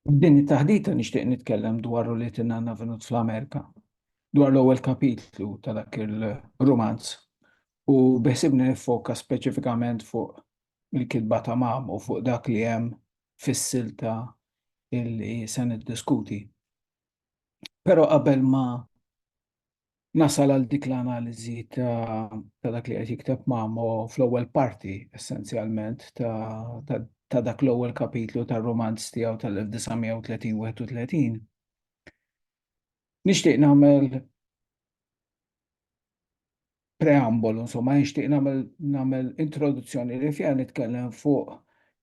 F'din it-taħdita nixtieq nitkellem dwar roliet in-nanna Venut fl-Amerika, dwar l-ewwel kapitlu ta' dak ir-rumanz u beħsiebni niffoka speċifikament fuq il-kitba ta' Mam u fuq dak li hemm fis-silta li se niddiskuti. Però qabel ma Nasal għal dik l-analiżi ta' dak li qed jikteb Mamo fl-ewwel parti essenzjalment ta' dak l-ewwel kapitlu tar-rumanz tiegħu tal-1930-31. Nixtieq nagħmel preambolu, insomma, nixtieq nagħmel introduzzjoni li fiha nitkellem fuq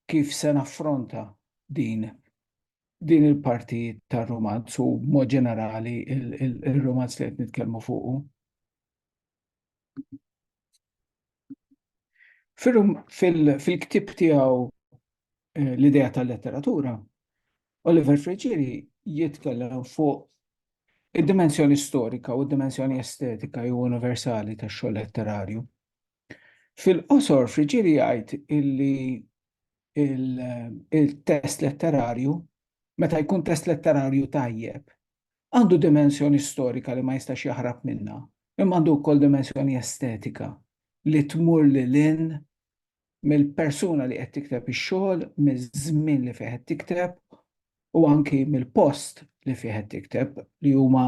kif se naffronta din din il-parti tar-romanz u b'mod ġenerali il-romanz li qed nitkellmu fuqu. Fil-ktib tiegħu eh, l-idea tal-letteratura, Oliver Friġiri jitkellem fuq id-dimensjoni storika u d-dimensjoni estetika u universali tax-xogħol letterarju. Fil-qosor, Friggieri jgħid illi il-test letterarju, meta jkun test letterarju tajjeb, għandu dimensjoni storika li ma jistax jaħrab minnha, imma għandu wkoll dimensjoni estetika li tmur lil hinn mill-persuna li qed tikteb ix-xogħol, miż-żmien li fih qed tikteb u anki mill-post li fih qed tikteb li huma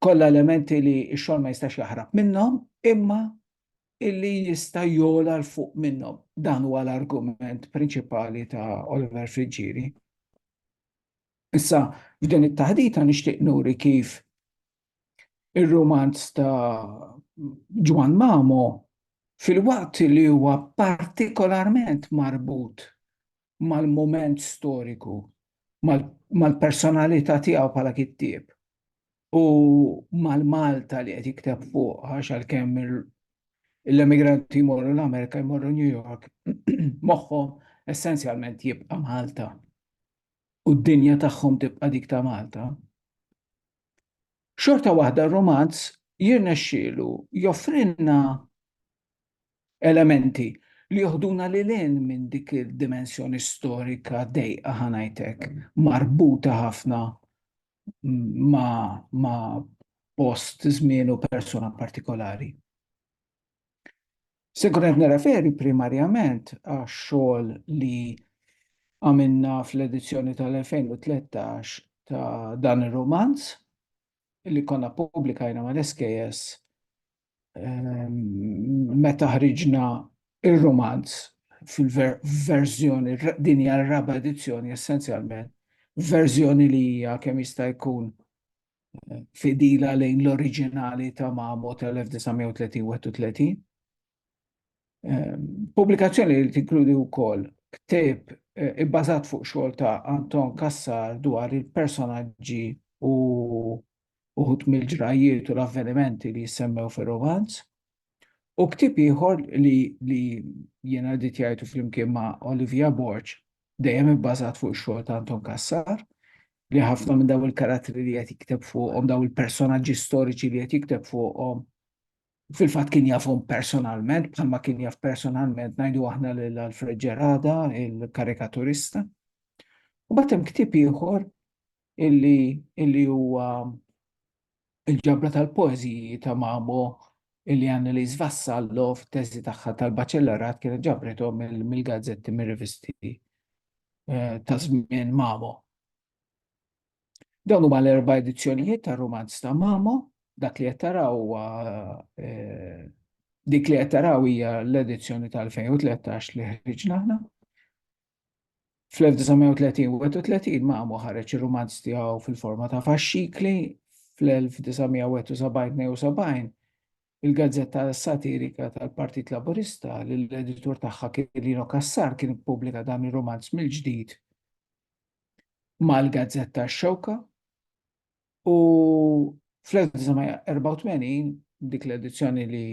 kollha elementi li x-xogħol ma jistax jaħrab minnhom imma illi jista' jogħla 'l fuq minnhom. Dan huwa l-argument prinċipali ta' Oliver Friggieri. Issa, f'din it-taħdita nixtieq nuri kif ir-rumanz ta' Ġwann Mamo fil-waqt li huwa partikolarment marbut mal-mument storiku, mal-personalità tiegħu bħala kittieb u mal-Malta li qed jikteb fuqha x'għalkemm l-emigranti jmorru l-Amerika jmorru New York moħħhom essenzjalment jibqa' Malta u d-dinja tagħhom tibqa' dik ta' Malta. Xorta waħda r-rumanz jirnexxielu joffrilna elementi li joħduna lil hinn minn dik id-dimensjoni storika dejqa ħa ngħid hekk, marbuta ħafna ma' post, żmien u persuna partikolari. Se nkun qed nirreferi primarjament għax-xogħol li għamilna fl-edizzjoni tal-2013 ta' dan ir-rumanz li konna ppubblikajna mal-SKS ehm, meta ħriġna ir-rumanz fil-verżjoni din hija r-raba' edizzjoni essenzjalment verżjoni li hija kemm jista' jkun fidila lejn l-oriġinali ta' Mamo tal-1931. Ehm, pubblikazzjoni li tinkludi wkoll ktib eh, ibbażat fuq xogħol ta' Anton Kassar dwar il-personaġġi u uħut mill-ġrajiet u l-avvenimenti li jissemmew fir-romanz. U ktieb ieħor li li jiena editjajtu flimkien ma' Olivia Borg, dejjem ibbażat fuq ix-xogħol ta' Anton Cassar, li ħafna minn daw il-karattri li qed jikteb fuqhom, daw il-personaġġi storiċi li qed jikteb fuqhom, fil-fatt kien jafhom personalment, bħalma kien jaf personalment ngħidu aħna lil Alfred Ġerada, il-karikaturista. U bagħad hemm ktieb ieħor illi illi huwa il-ġabra tal-poeżiji ta' Mamo illi Annelies Vassallo fit-teżi tagħha tal-baċellerat kienet ġabrithom mill-gazzetti mir-rivisti eh, ta' żmien Mamo. Dawn huma l-erba' edizzjonijiet tar-rumanz ta' Mamo, dak li qed taraw huwa eh, dik li qed taraw hija l-edizzjoni tal-2013 li ħriġna aħna. Fl-1930 Mamo ħareġ ir-rumanz tiegħu fil-forma ta' faxxikli, fl-1971-72 il-gazzetta satirika tal-Partit Laburista li l-editur tagħha kien Lino Cassar kien ippubblika dan ir-rumanz mill-ġdid mal-gazzetta X-Xewka. U fl-1984, dik l-edizzjoni li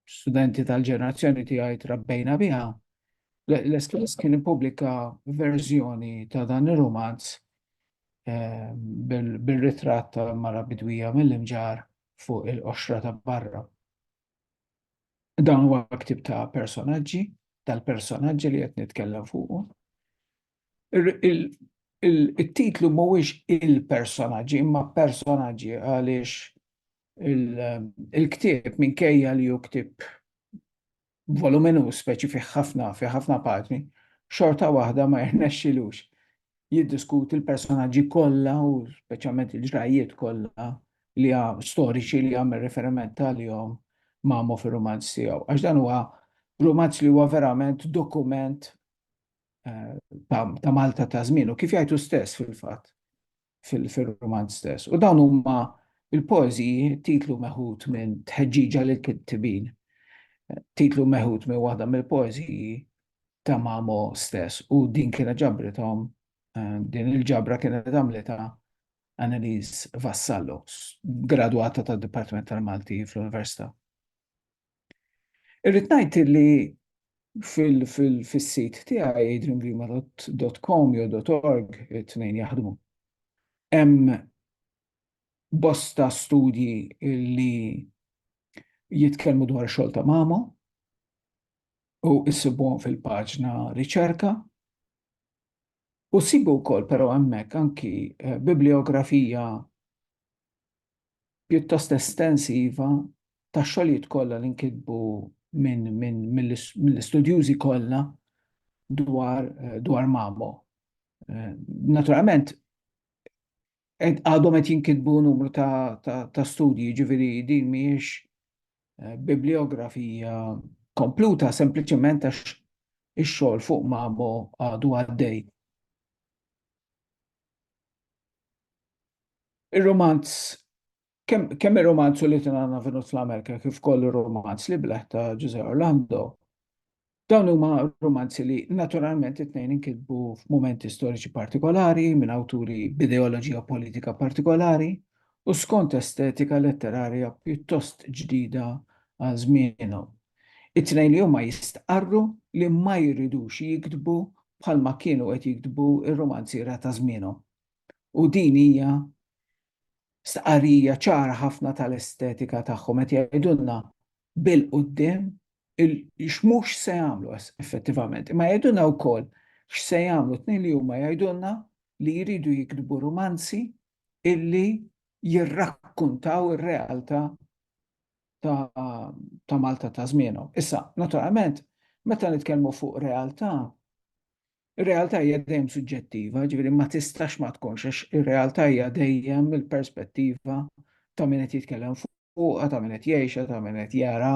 studenti tal-ġenerazzjoni tiegħi trabbejna biha, l-Espress kien ippubblika verżjoni ta' dan ir-romanz eh, bil-ritratt ta' mara bidwija mill-imġar fuq il-qoxra ta' barra. Dan huwa ktib ta' personaġġi, tal-personaġġi li qed nitkellem fuqu. it-titlu mhuwiex il-personaġġi imma personaġġi għaliex il-ktieb minkejja li hu ktieb voluminuż speċi fih ħafna fi ħafna paġni, xorta waħda ma jirnexxilux jiddiskuti l-personaġġi kollha u speċjalment il-ġrajjiet kollha li storiċi li għamel riferiment għalihom Mamo fir-rumanz tiegħu. Għax dan huwa rumanz li huwa verament dokument ta' Malta ta' żmien u kif jgħidu stess fil-fatt fil-roman stess. U dawn huma il-poeżiji titlu meħud minn tħeġġiġa lil kittibin. Titlu meħud minn waħda mill-poeżiji ta' Mamo stess u din kienet ġabrithom eh, din il-ġabra kienet għamlita Annelies Vassallo, gradwata tad-Dipartiment tal-Malti fl-Università. Irrid ngħid li fis-sit tiegħi adriangrima.com jew .org it-tnejn jaħdmu. Hemm bosta studji li jitkellmu dwar xogħol ta' mama u issibuhom fil-paġna riċerka. U sibu wkoll però hemmhekk anki eh, bibliografija pjuttost estensiva tax-xogħlijiet kollha li nkitbu mill-istudjużi kollha dwar Mamo. Naturalment, għadhom qed jinkitbu numru ta' studji, jiġifieri din mhijiex bibliografija kompluta, sempliċement għax ix-xogħol fuq Mamo għadu għaddej. Ir-romanz, kemm ir-romanz u li tinanna vinut fl-Amerika kif kollu romanz li bleħ ta' Ġuże Orlando, dawn huma romanzi li naturalment it-tnejn inkitbu f'mumenti storiċi partikolari minn awturi b'ideoloġija politika partikolari u skont estetika letterarja pjuttost ġdida għal żmienhom. It-tnejn li huma jistqarru li ma jridux jiktbu bħalma kienu qed jiktbu r-rumanziera ta' żmienhom. U din hija stqarrija ċara ħafna tal-estetika tagħhom, qed jgħidulna bil-quddiem x'mhux se jagħmlu effettivament. Imma jgħidulna wkoll x'se jagħmlu, t-tnejn li huma jgħidulna li jridu jiktbu rumanzi illi jirrakkuntaw ir-realtà ta' Malta ta' żmienhom. Issa, naturalment, meta nitkellmu fuq realtà, ir-realtà hija dejjem suġġettiva, ġifieri ma tistax ma tkunx għax ir-realtà hija dejjem il-perspettiva ta' min qed jitkellem fuqha, ta' min qed jgħixha, ta' min qed jara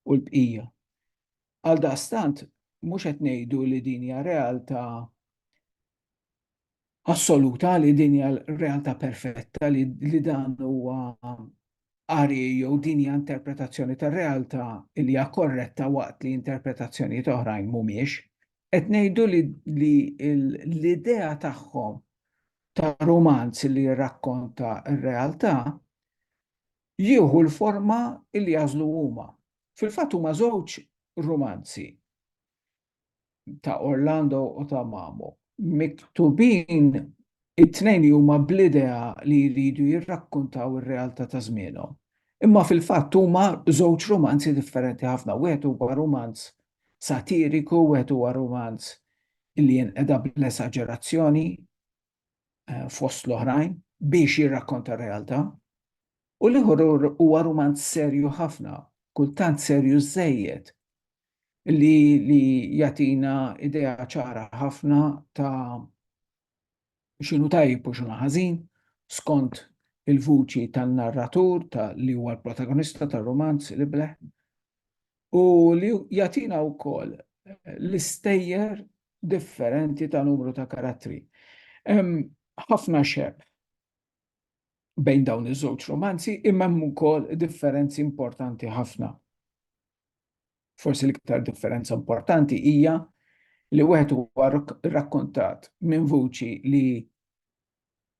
u l-bqija. Għaldaqstant, mhux qed ngħidu li din hija realtà assoluta li din hija l-realtà perfetta li, li dan huwa qari jew din hija interpretazzjoni tar-realtà li hija korretta waqt li interpretazzjonijiet oħrajn mhumiex. Qed ngħidu li, li l-idea tagħhom ta' rumanz li jirrakkonta r-realtà jieħu l-forma li jażlu huma. Fil-fatt huma żewġ rumanzi. ta' Orlando u ta' Mamo, miktubin it-tnejn li huma bl-idea li jridu jirrakkuntaw ir-realtà ta' żmienhom. Imma fil-fatt huma żewġ rumanzi differenti ħafna, wieħed huwa rumanz satiriku, wieħed huwa rumanz li jinqeda bl-esaġerazzjoni, fost l-oħrajn biex jirrakkonta r-realtà, u l-ieħor huwa rumanz serju ħafna, kultant serju żejjed, li jagħtina idea ċara ħafna ta' x'inhu tajjeb u x'inhu ħażin skont il-vuċi tan-narratur li huwa l-protagonista tar-rumanz, l-ibleh. u li jagħtina wkoll l-istejjer differenti ta' numru ta' karattri. Hemm ħafna xeb bejn dawn iż-żewġ romanzi imma hemm ukoll differenzi importanti ħafna. Forsi l-iktar differenza importanti hija li wieħed huwa rrakkontat minn vuċi li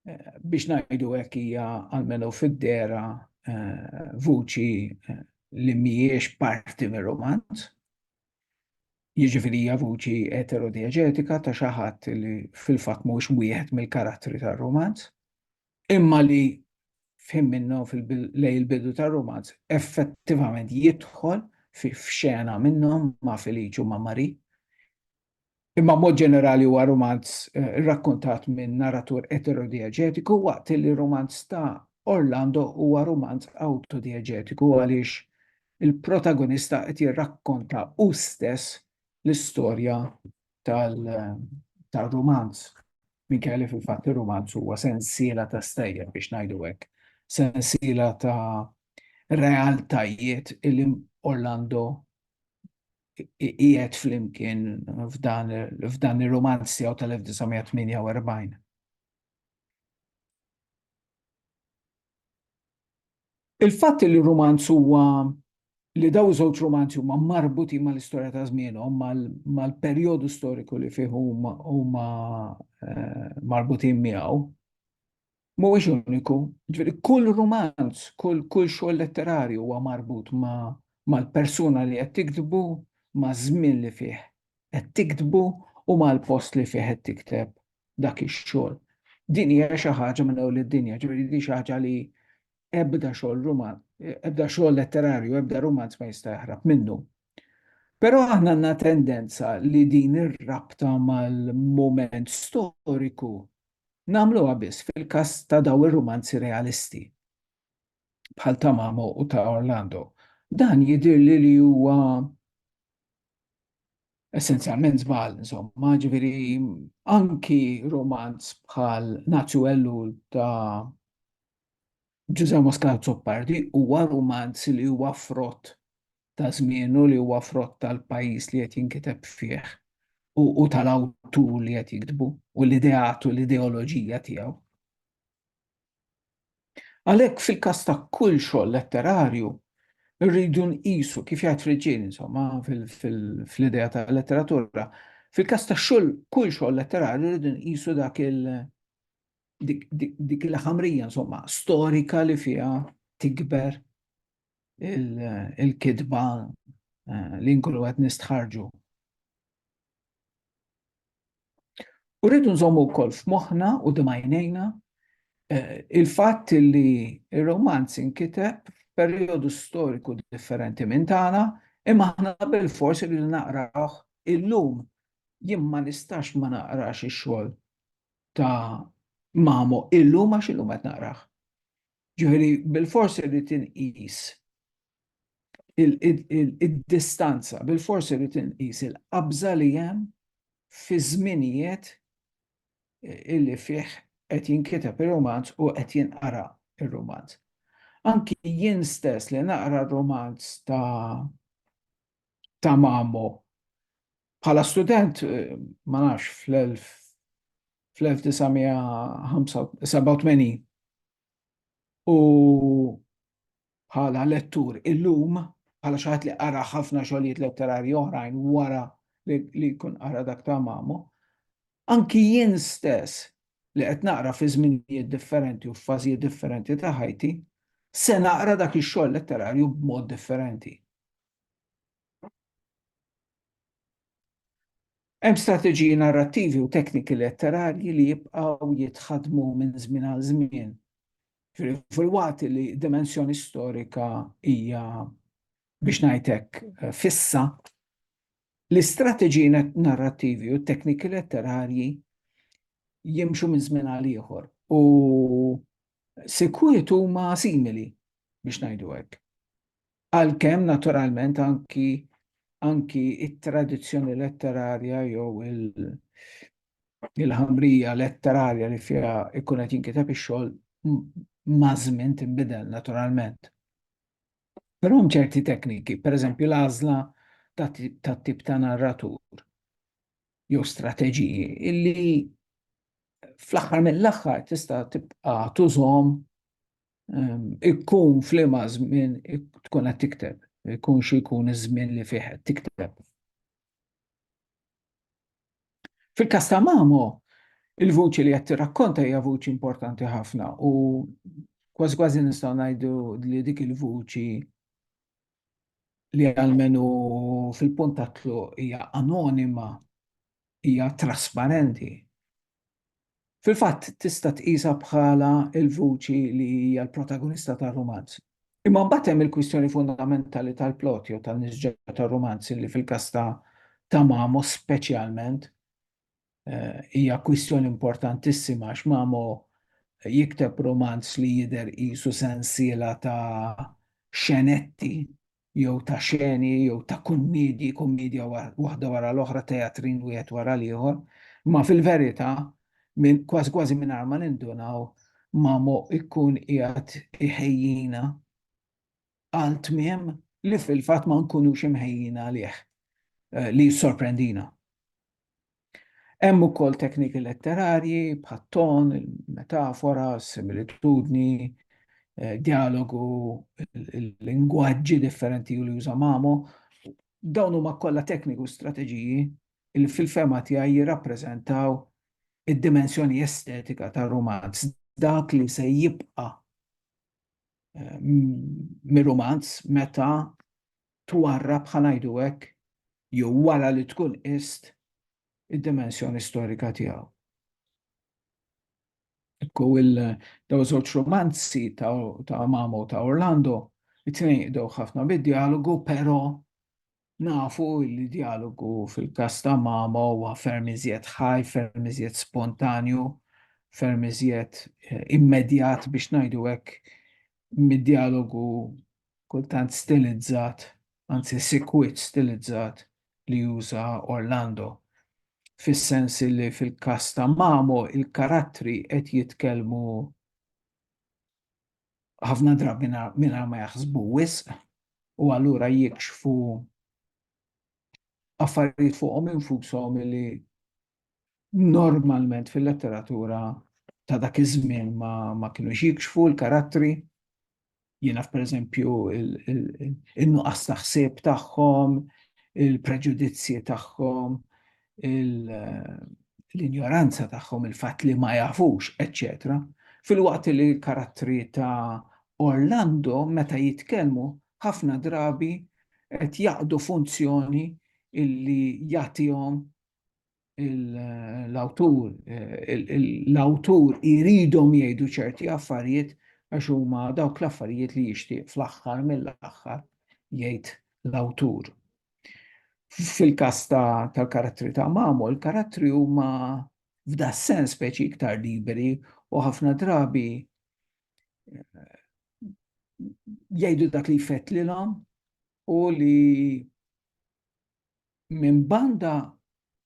biex ngħidu hekk hija għalmenu fid-dera eh, vuċi eh, li mhijiex parti mir-romanz. Jiġifieri hija vuċi eterodieġetika ta' xi ħadd li fil-fatt mhux wieħed mill-karattri tar-romanz, imma li fim minnu lej il-bidu tar-romanz effettivament jidħol fi f'xena minnhom ma' Feliċu ma' Mari imma b'mod ġenerali huwa rumanz rrakkuntat minn narratur eterodieġetiku waqt li r-rumanz ta' Orlando huwa rumanz awtodieġetiku għaliex il-protagonista qed jirrakkonta hu stess l-istorja tar-rumanz minkejja li fil-fatt ir-rumanz huwa sensiela ta' stejjer, biex ngħidu hekk, sensiela ta' realtajiet li Orlando qiegħed flimkien f'dan ir-rumanz tiegħu tal-1948. Il-fatt li r-rumanz huwa li dawn żewġ rumanzi huma marbutin mal-istorja ta' żmienhom, mal-perjodu storiku li fih huma marbutin miegħu, mhuwiex uniku, ġifieri kull rumanz, kull kull xogħol letterarju huwa marbut ma' mal-persuna li qed tiktbu, maż-żmien li fih qed tiktbu u mal-post li fih qed tikteb dak ix-xogħol. Din hija xi ħaġa minn ewwel id-dinja, ġifieri din xi ħaġa li ebda xogħol ruman, ebda xogħol letterarju, ebda rumanz ma jista' jaħrab minnu. Però aħna għandna tendenza li din ir-rabta mal-mument storiku Nagħmluha biss fil-każ ta' dawn ir-rumanzi realisti, bħal ta' Mamo u ta' Orlando. Dan jidhirli li huwa essenzjalment żball, insomma, jiġifieri anki rumanz bħal Naċċ u Ellul ta' Ġużè Mosca Azzopardi huwa rumanz li huwa frott ta' żmienu li huwa frott tal-pajjiż li qed jinkiteb fih u u tal-awtur li qed jiktbu u l-ideat u l-ideoloġija tiegħu. Għalhekk fil-każ ta' kull xogħol letterarju rridu nqisu kif jgħid Friġġieni insomma fl-idea tal-letteratura, fil-każ ta' xogħol kull xogħol letterarju rridu nqisu dak il dik il-ħamrija insomma storika li fiha tikber il-kitba eh, li nkunu qed nistħarġu. U rridu nżommu wkoll f'moħħna u dimajnejna eh, il-fatt li il romanz inkiteb f'perjodu storiku differenti minn tagħna, imma aħna bil-forsi li naqrawh illum jien ma nistax ma naqrax ix-xogħol ta' mamu illum għax illum qed naqrah. Ġifieri bilfors irrid inqis id-distanza, bilfors irrid inqis il-qabża li hemm fi żminijiet illi fih qed jinkiteb ir-rumanz u qed jinqara r-rumanz. Anki jien stess li naqra r-rumanz ta' ta' Mamo. Bħala student, ma nafx, fl-1987 u bħala lettur illum, bħala xi ħadd li qara ħafna xogħlijiet letterarji oħrajn wara li jkun qara dak ta' Mamo, anki jien stess li qed naqra fi żminijiet differenti u f'fażijiet differenti ta' ħajti, se naqra dak ix-xogħol letterarju b'mod differenti. Hemm strateġiji narrattivi u tekniki letterarji li jibqgħu jitħaddmu minn żmien għal żmien. Fil-waqt li dimensjoni storika hija biex ngħid hekk fissa, l-istrateġiji narrattivi u tekniki letterarji jimxu minn żmien għal ieħor u sikwiet huma simili biex ngħidu hekk. Għalkemm naturalment anki anki it-tradizzjoni letterarja jew il-ħamrija letterarja li fiha ikun qed jinkiteb ix-xogħol mażmin tinbidel naturalment. Però hemm ċerti tekniki, pereżempju l-għażla tat-tip ta' narratur jew strateġiji illi fl-aħħar mill-aħħar tista' tibqa' tużhom Ikkun flima żmien tkun qed tikteb, ikun xi jkun iż-żmien li fih qed tikteb. Fil-każ ta' Mamo, il-vuċi li qed tirrakkonta hija vuċi importanti ħafna u kważi kważi nistgħu ngħidu li dik il-vuċi li għalmenu fil-puntatlu hija anonima, hija trasparenti, Fil-fatt, tista' tqisha bħala l-vuċi li hija l-protagonista tar-rumanz. Imma mbagħad hemm il-kwistjoni fundamentali tal-plot jew tan-nisġa tar-rumanz li fil-każ ta' ta' Mamo speċjalment hija kwistjoni importantissima għax Mamo jikteb rumanz li jidher qisu sensiela ta' xenetti jew ta' xeni jew ta' kummedji, kummedja waħda wara l-oħra, teatrin wieħed wara l-ieħor, imma fil-verità, kważi kważi mingħajr ma nindunaw, Mamo jkun qiegħed iħejjina għal tmiem li fil-fatt ma nkunux imħejjin għalih, li jissorprendina. Hemm ukoll tekniki letterarji bħat-ton, il-metafora, s-similitudni, djalogu, il-lingwaġġi differenti li juża Mamo. Dawn huma kollha tekniki u strateġiji li fil-fehma tiegħi jirrappreżentaw id-dimensjoni estetika tar-rumanz, dak li se jibqa' mir-rumanz meta twarrab, ħa ngħidu hekk, jew wara li tkun qist id-dimensjoni storika tiegħu. Ekku il daw żewġ romanzi ta' ta' Mamo u ta' Orlando, it-tnejn jibdew ħafna bid-djalogu, però nafu li djalogu fil-każ ta' Mamo huwa ferm iżjed ħaj, ferm iżjed spontanju, ferm iżjed eh, immedjat biex ngħidu hekk mid-djalogu kultant stilizzat, anzi sikwit stilizzat li juża Orlando, fis-sens li fil-każ ta' Mamo l-karattri qed jitkellmu ħafna drabi mingħajr ma jaħsbu wisq u allura jikxfu affarijiet fuqhom infushom li normalment fil-letteratura ta' dak iż-żmien ma, ma kienu jikxfu l-karattri. Jiena pereżempju in-nuqqas ta' ħsieb tagħhom, il-preġudizzji tagħhom, l-injoranza tagħhom, il-fatt li ma jafux, eċċetera. Fil-waqt li l-karattri ta' Orlando meta jitkellmu ħafna drabi qed jaqdu funzjoni illi jagħtihom l-awtur, l-awtur iridhom jgħidu ċerti affarijiet għax huma dawk l-affarijiet li jixtieq fl-aħħar mill-aħħar jgħid l-awtur. Fil-kas tal-karattri ta' mamu, l-karattri huma f'da sens speċi iktar liberi u ħafna drabi eh, jgħidu dak li jfett lilhom u li minn banda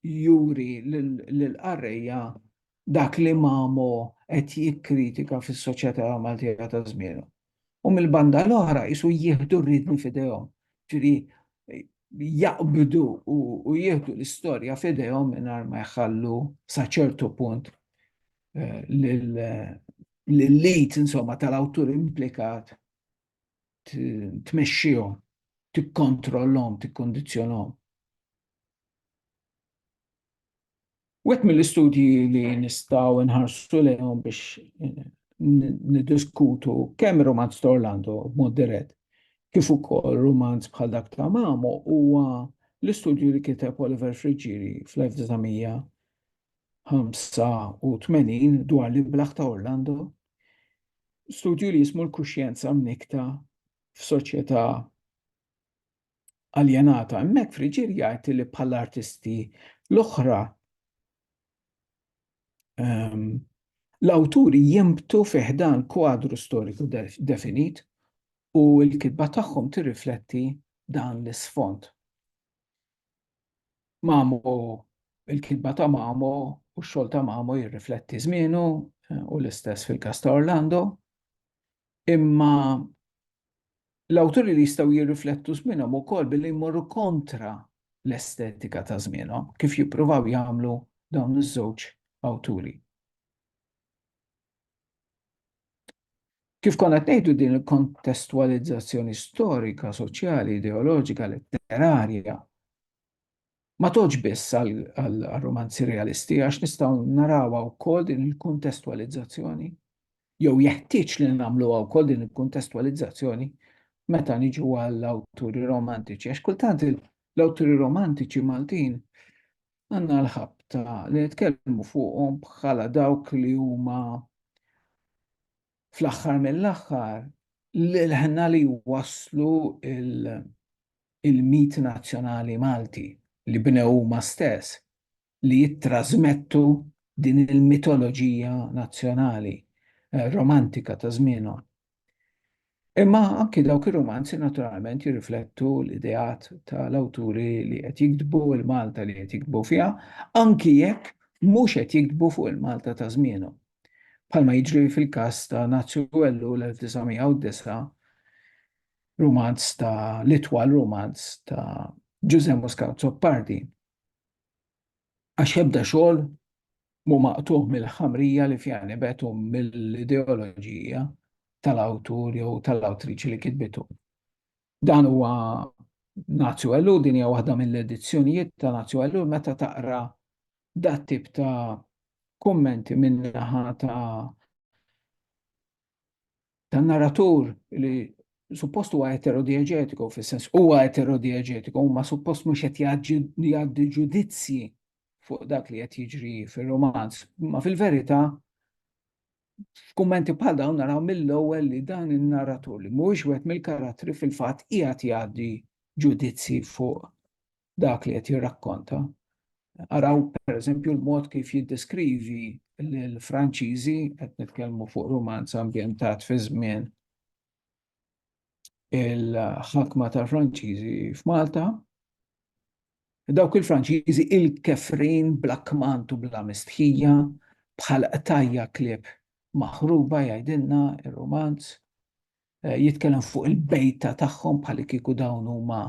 juri lill-qarrejja dak li Mamo qed jikkritika fis-soċjetà Maltija ta' żmienu. U mill-banda l-oħra qisu jieħdu r-riedni f'idejhom, ġifieri jaqbdu u jieħdu l-istorja f'idejhom mingħajr ma jħallu sa ċertu punt l-id insomma tal-awtur implikat tmexxihom, tikkontrollhom, tikkondizzjonhom. Wet mill-istudji li nistgħu nħarsu lejhom biex eh, niddiskutu kemm romanz ta' Orlando b'mod dirett kif ukoll romanz bħal dak ta' Mamo huwa l-istudju li kiteb Oliver Friggieri fl-1985 dwar l-iblaħ ta' Orlando Studju li jismu l-kuxjenza mnikta f'soċjetà aljenata. Hemmhekk friġir jgħid li bħal artisti l-oħra ehm, l-awturi jimbtu fiħdan kwadru storiku definit u l-kitba tagħhom tirrifletti dan l-isfond. Mamo, il-kitba ta' Mamo u x-xogħol ta' Mamo jirrifletti żmienu u l-istess fil-każ ta' Orlando. Imma l-awturi li jistgħu jirriflettu żmienhom ukoll billi jmorru kontra l-estetika ta' żmienhom, kif jippruvaw jagħmlu dawn iż-żewġ awturi. Kif konna tgħidu din il-kontestwalizzazzjoni storika, soċjali, ideoloġika, letterarja, ma toġ biss għal-romanzi realisti, għax nistaw narawa u kol din il-kontestwalizzazzjoni, jew jeħtieġ li namlu għaw kol din il-kontestwalizzazzjoni meta niġu għall-awturi romantiċi. Għax kultant l-awturi romantiċi Maltin għandna l-ħabta li nitkellmu fuqhom bħala dawk li huma fl-aħħar mill-aħħar l-ħna li waslu il-mit nazzjonali Malti li bnew huma stess li jittrażmettu din il-mitoloġija nazzjonali eh, romantika ta' żmienhom. Imma anki dawk ir-rumanzi naturalment jirriflettu l-ideat tal-awturi li qed jiktbu il-Malta li qed jiktbu fiha, anki jekk mhux qed jiktbu fuq il-Malta ta' żmienhom. Bħalma jiġri fil-każ ta' Nazju Wellu l-1909, rumanz ta' l-itwal rumanz ta' Ġużè Muscat Zoppardi. Għax ebda xogħol mhu maqtugħ mill-ħamrija li fiha nibet u mill-ideoloġija tal-awtur jew tal-awtriċi li kitbitu. Dan huwa Nazju Ellu, din hija waħda mill-edizzjonijiet ta' Nazju Ellu meta taqra dat tip ta' kummenti min-naħa ta' tan-narratur li suppost huwa eterodieġetiku, fis-sens huwa eterodieġetiku, ma suppost mhux qed jgħaddi ġudizzji fuq dak li qed jiġri fir-romanz. Ma fil-verità, f'kummenti bħal dawn naraw mill-ewwel li dan in-narratur li mhuwiex wieħed mill-karattri fil-fatt qiegħed jgħaddi ġudizzji fuq dak li qed jirrakkonta. Araw pereżempju l-mod kif jiddeskrivi l-Franċiżi qed nitkellmu fuq rumanz ambjentat fi żmien il-ħakma tal-Franċiżi f'Malta. Dawk il-Franċiżi il-kefrin bla kmant u bla mistħija bħal qtajja klieb maħruba jgħidilna ir-rumanz. jitkellem fuq il-bejta tagħhom bħal kieku dawn huma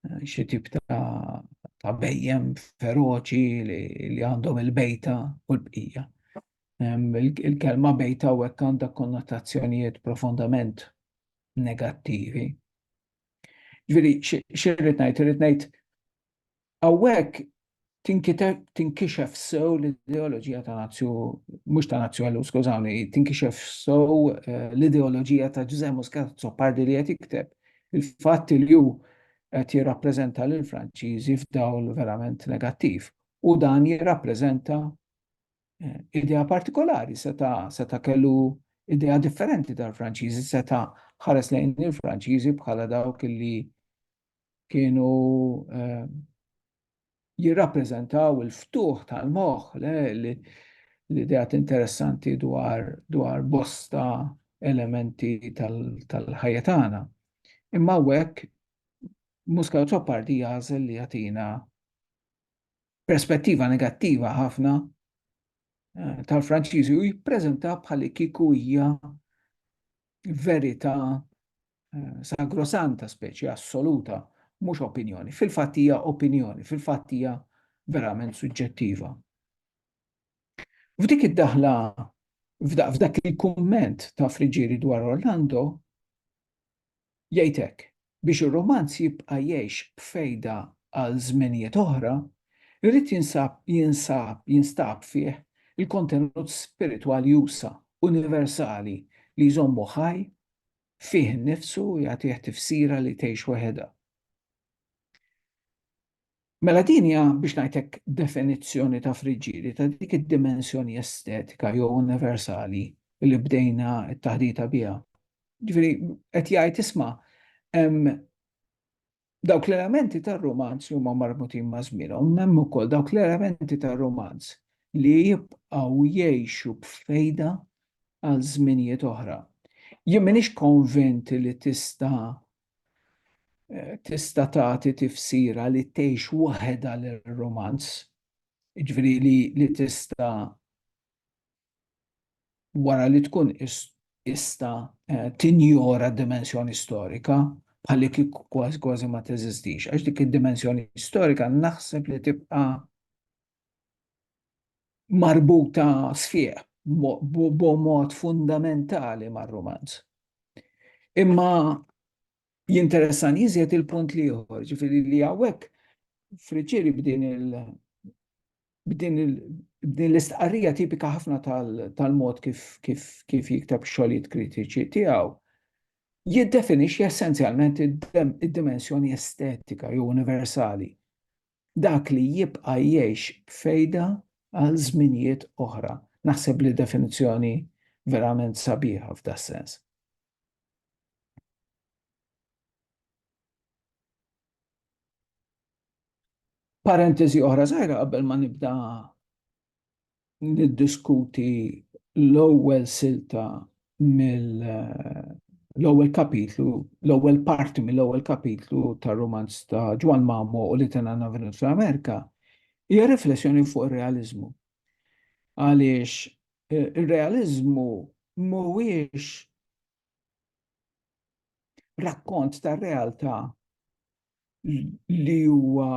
eh, xi tip ta' bejjem feroċi li għandhom il-bejta u l-bqija. Il-kelma bejta u hekk għandha konnotazzjonijiet profondament negattivi. Ġviri, xirrit ngħid, irrid ngħid Hawnhekk tinkixef sew l-ideoloġija ta' Nazju, mhux ta' Nazju għallu, skużawni, tinkixef sew eh, l-ideoloġija ta' Ġużè Muscat Zopardi li qed jikteb. Il-fatt li hu qed jirrappreżenta lil Franċiżi f'dawl verament negattiv. U dan jirrappreżenta eh, idea partikolari, seta, seta kellu idea differenti tal-Franċiżi, seta ħares lejn il-Franċiżi bħala dawk li kienu jirrappreżentaw il-ftuħ tal-moħħ l-idea interessanti dwar dwar bosta elementi tal-ħajja tagħna. Imma hekk Muska Ċoppardi jażel li jagħtina perspettiva negattiva ħafna eh, tal-Franċiżi u jippreżenta bħal kiku hija verità sagrosanta, speċi assoluta, mhux opinjoni. Fil-fatt hija opinjoni, fil-fatt hija verament suġġettiva. F'dik id-daħla, f'dak il-kumment ta' Friġieri dwar Orlando, jgħidek biex ir-romanz jibqa' jgħix b'fejda għal żmenijiet oħra, irid jinsab jinsab jinstab fih il-kontenut spiritwali usa' universali li jżommu ħaj fih innifsu u jagħtih tifsira li tgħix waħedha. Mela din hija biex ngħidlek definizzjoni ta' friġġieri ta' dik id-dimensjoni estetika jew universali li bdejna t-taħdita biha. Ġifieri qed jgħid isma' hemm Dawk l-elementi tar-rumanz li huma marbutin ma' żmienhom, hemm ukoll dawk l-elementi tar-rumanz li jibqgħu jgħixu b'fejda għal żminijiet oħra. Jien m'iniex konvint li tista' tista' tagħti tifsira li tgħix waħedha lir-rumanz, jiġifieri li tista' wara li tkun qista tinjora d-dimensjoni storika bħal li kieku kważi kważi ma teżistix, għax dik id-dimensjoni storika naħseb li tibqa' marbuta sfiq b'mod fundamentali mar-rumanz. Imma jinteressani iżjed il-punt l-ieħor, ġifieri li hawnhekk Friccieri b'din il- B'din l-istqarrija tipika ħafna tal-mod kif jikteb ix-xogħlijiet kritiċi tiegħu, jiddefinixxi essenzjalment id-dimensjoni estetika jew universali, dak li jibqa' jgħix b'fejda għal żminijiet oħra. Naħseb li definizzjoni verament sabiħa f'das-sens. Parentesi oħra żgħira qabel ma nibda niddiskuti l-ewwel silta mill l-ewwel kapitlu, l-ewwel parti mill-ewwel kapitlu tar-romanz ta' Ġwan Mamo u li tena Navinus fl-Amerika, hija riflessjoni fuq ir-realiżmu. Għaliex eh, ir-realiżmu mhuwiex rakkont tar-realtà li huwa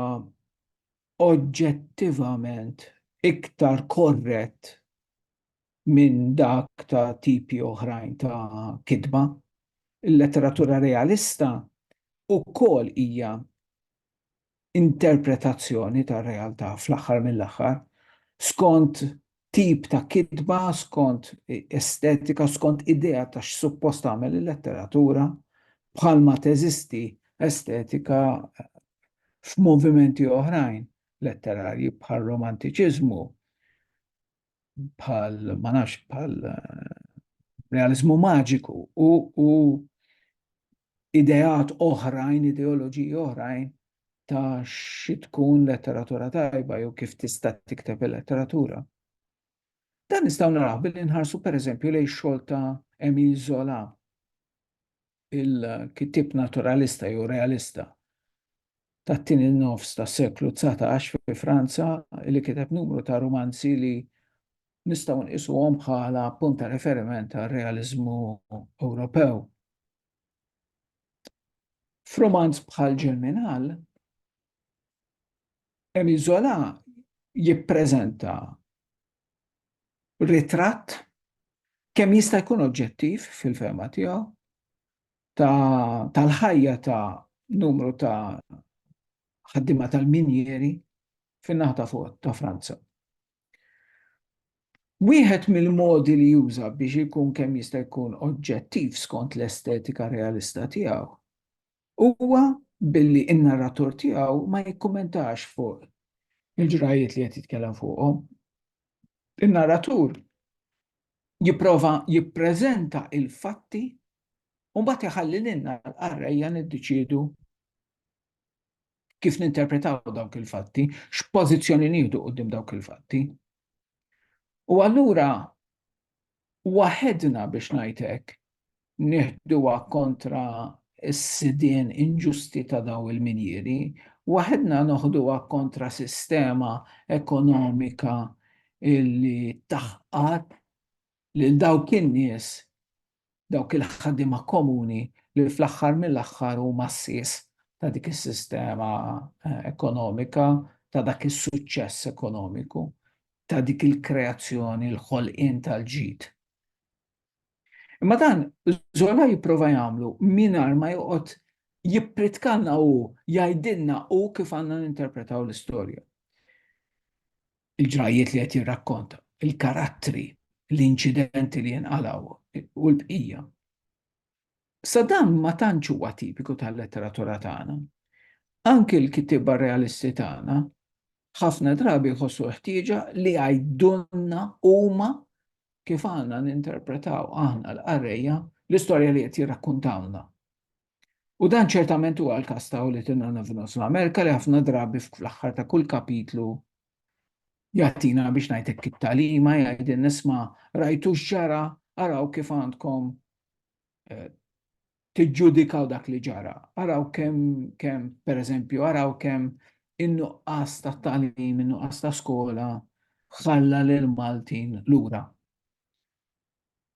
oġġettivament iktar korrett minn dak ta' tipi oħrajn ta' kitba. Il-letteratura realista wkoll hija interpretazzjoni tar-realtà fl-aħħar mill-aħħar, skont tip ta' kitba, skont estetika, skont idea ta' x'suppost tagħmel il-letteratura, bħalma teżisti estetika f'movimenti oħrajn letterarji bħar-Romantiċiżmu. bħal ma nafx bħal eh, realizmu maġiku u, u ideat oħrajn, ideoloġiji oħrajn ta' xi tkun letteratura tajba jew kif tista' tikteb il-letteratura. Dan nistgħu naraw billi nħarsu pereżempju lejn xogħol ta' Emil Zola. il-kittieb naturalista jew realista tat-tieni nofs tas-seklu dsatax fi Franza li kiteb numru ta' rumanzi li nistgħu nqisuhom bħala punt ta' riferiment għar-realiżmu Ewropew. F'rumanz bħal Ġerminal, Emile Zola jippreżenta ritratt kemm jista' jkun oġġettiv fil-fehma tiegħu tal-ħajja ta' numru ta' ħaddiema tal-minjieri fin-naħa ta' fuq ta' Franza. Wieħed mill-modi li juża biex ikun kemm jista' jkun oġġettiv skont l-estetika realista tiegħu Huwa billi n-narratur tiegħu ma jikkummentax fuq il-ġrajjiet li qed jitkellem fuqhom. In-narratur jipprova jippreżenta l-fatti u mbagħad iħalli lilna l-qarrejja niddeċiedu kif ninterpretaw dawk il-fatti, x'pożizzjoni nieħdu quddiem dawk il-fatti. U allura waħedna biex ngħid hekk, nieħduha kontra s-sidien inġusti ta' dawn il-minjieri, waħedna noħduha kontra sistema ekonomika li taħqad lil dawk in-nies, dawk il-ħaddiema komuni li fl-aħħar mill-aħħar huma s-sies ta' dik is-sistema ekonomika, ta' dak is-suċċess ekonomiku. ta' dik il-kreazzjoni, l-ħolqien tal-ġid. Imma dan Zola jipprova jagħmlu mingħajr ma joqgħod jippritkanna hu, jgħidilna hu kif għandna ninterpretaw l-istorja. Il-ġrajjiet li qed jirrakkonta, il-karattri, l-inċidenti li jinqalgħu u l-bqija. Issa dan ma tantx huwa tipiku tal-letteratura tagħna. Anki l-kittieba realisti tagħna ħafna drabi jħossu l-ħtieġa li jgħidulna huma kif għandna ninterpretaw aħna l-qarrejja l-istorja li qed jirrakkuntawlna. U dan ċertament huwa l-każ ta' Little None of North America li ħafna drabi fl-aħħar ta' kull kapitlu Jagħtina biex ngħid hekk it-tagħlima jgħidilna isma' rajtu x'ġara araw kif għandkom eh, tiġġudikaw dak li ġara. Araw kemm kemm pereżempju araw kemm in-nuqqas ta' tagħlim, in-nuqqas ta' skola ħalla lil Maltin lura.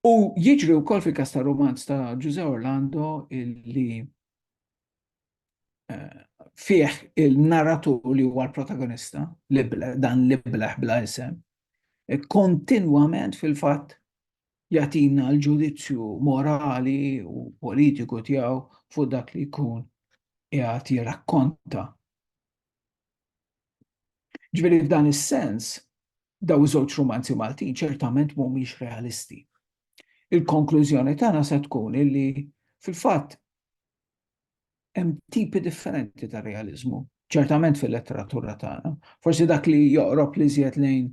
U jiġri wkoll fil-kas ta' romanz ta' Ġuże Orlando illi fih il-narratur li huwa l-protagonista, dan l-ibleħ bla isem, kontinwament fil-fatt jatina l-ġudizzju morali u politiku tiegħu fuq dak li jkun jgħat jirrakkonta. Ġveri f'dan is-sens, daw żewġ romanzi Maltin ċertament mhumiex realisti. Il-konklużjoni tagħna se tkun illi fil-fatt hemm tipi differenti ta' realizmu, ċertament fil-letteratura tagħna. Forsi dak li joqrob li żjed lejn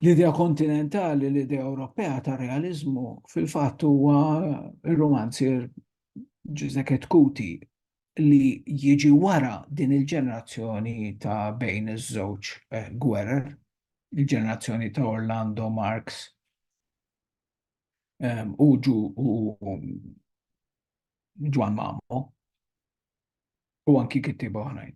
l-idea kontinentali, l-idea Ewropea ta' realizmu, fil-fatt huwa r-romanzier Giuseppe Kuti li jiġi wara din il-ġenerazzjoni ta' bejn iż-żewġ eh, gwerer, il-ġenerazzjoni ta' Orlando Marx u Ġwan Mamo u anki kittiba oħrajn.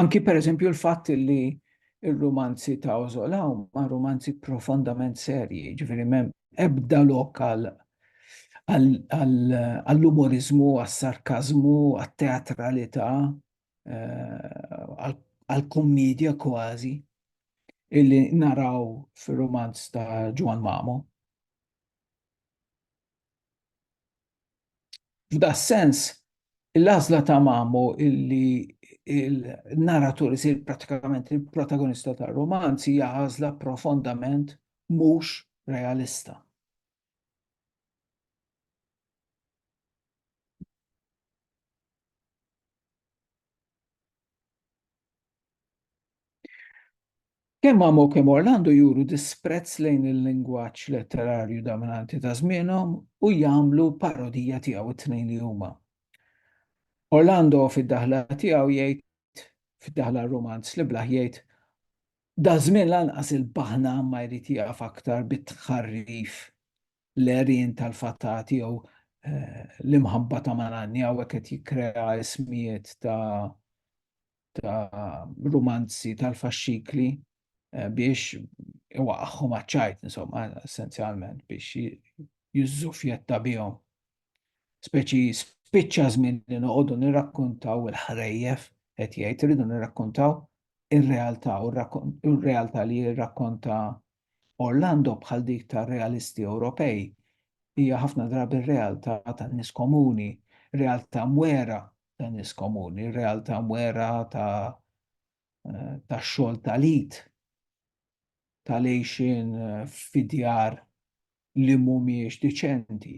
Anki per eżempju l-fatt li il-romanzi ta' Ozola ma' romanzi profondament serji, ġifiri mem ebda lokal għall-umorizmu, għall-sarkazmu, għall-teatralità, eh, għal-kommedja kważi illi naraw fil-romanz ta' Ġwan Mamo. F'da sens, l-azla ta' Mamo illi il-narratur isir pratikament il-protagonista ta' romanzi hija għażla profondament mhux realista. Kemm Amo u kemm Orlando juru disprezz lejn il-lingwaġġ letterarju dominanti ta' żmienhom u jagħmlu parodija tiegħu t-tnejn li huma. Orlando fid-daħla tiegħu jgħid, fid-daħla romanz li blaħ jgħid, Daż-żmien lanqas il-baħna ma jrid jieqaf aktar bit-tħarrif l-għerien tal-fatati jew l-imħabba ta' malanni hawnhekk qed jikkrea ismijiet ta' rumanzi tal-faxxikli biex iwaqqagħhom għaċ-ċajt insomma essenzjalment biex jiżżufjetta bihom. Speċi spiċċa żmien li noqogħdu nirrakkuntaw il-ħrejjef qed jgħid irridu nirrakkuntaw ir-realtà u r-realtà li jirrakkonta Orlando bħal dik tar-realisti Ewropej hija ħafna drabi r-realtà tan-nies komuni, realtà mwera tan-nies komuni, realtà mwera ta' tax-xogħol tal-id. tal-għejxien fi djar li mhumiex diċenti,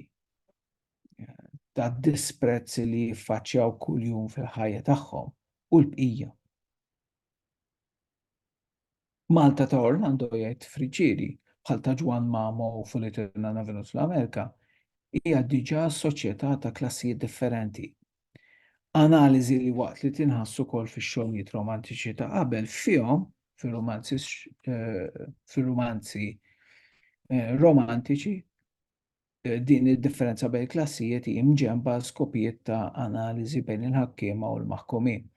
tad-disprezz li jiffaċċjaw kuljum fil-ħajja tagħhom u l-bqija. Malta ta' Orlando jgħid Friġġieri, bħal ta' Ġwann Mamo u Fulitirna Navinus fl-Amerika, hija diġà soċjetà ta' klassijiet differenti, Analiżi li waqt li tinħass ukoll fix-xogħlijiet romantiċi ta' qabel fihom fir-romanzi fir-romanzi eh, romantiċi eh, din id-differenza bejn klassijiet hi mġemba skopijiet ta' analiżi bejn il-ħakkiema u l-maħkumin.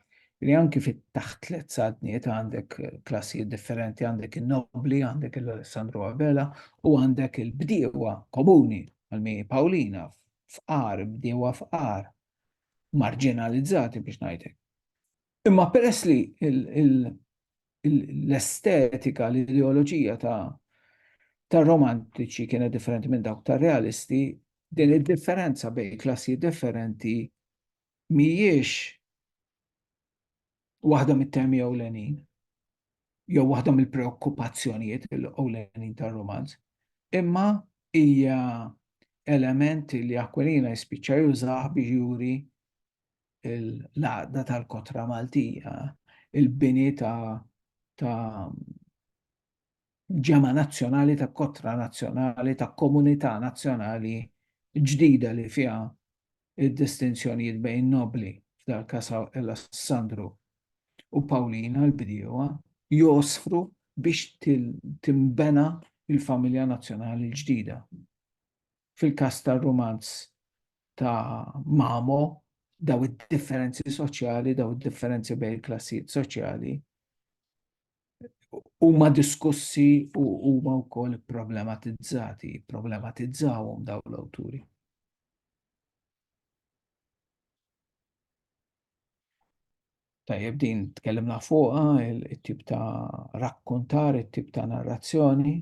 Li anki fit-taħt tliet sadniet għandek klassijiet differenti, għandek il-nobli, għandek il-Alessandro Abela u għandek il-bdiewa komuni għal-mi Paolina fqar, bdiewa fqar, marġinalizzati biex ngħidlek. Imma peress li l-estetika, l-ideoloġija ta' romantiċi kienet differenti minn dawk ta' realisti, din id-differenza bejn klassi differenti mhijiex waħda mit-temi ewlenin, jew waħda mill-preokkupazzjonijiet ewlenin tar-romanz, imma hija element li Aquilina jispiċċa jużah biex juri l-għaqda tal-kotra Maltija, il-bini ta' ġemgħa nazzjonali ta' kotra nazzjonali ta' komunità nazzjonali ġdida li fiha d-distinzjonijiet bejn nobbli, f'dal-każ Alessandru u Pawlina l-bdiewa, jgħożfru biex tinbena l-familja nazzjonali l-ġdida. Fil-każ tar-rumanz ta' Mamo, dawn id-differenzi soċjali, dawn id-differenzi bejn il-klassijiet soċjali, huma diskussi u huma wkoll problematizzati, problematizzawhom daw l-awturi. Tajjeb din tkellimna fuqha it-tip ta' rakkontar, it-tip ta' narrazzjoni.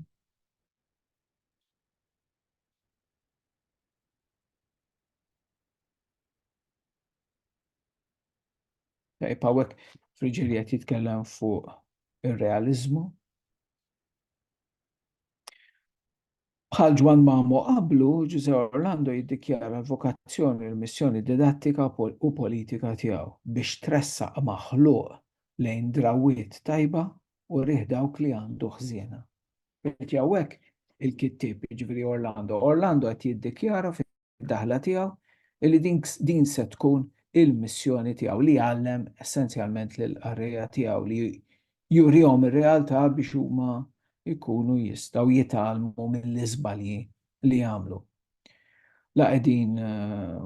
Tajb, għawek friġili għet jitkellem fuq il-realizmu. Bħal Ġwan Mamo qablu, Ġuże Orlando jiddikjara l-vokazzjoni, l-missjoni didattika u politika tiegħu biex tressa maħluq lejn drawit tajba u riħ dawk li għandu ħżiena. Għawek il-kittib, ġviri Orlando. Orlando għet jiddikjara id-daħla tiegħu, illi din se tkun il-missjoni tiegħu, li jgħallem essenzjalment lill-qarrejja tiegħu, li jurihom ir-realtà biex huma jkunu jistgħu jitgħallmu mill-iżbalji li għamlu. La qegħdin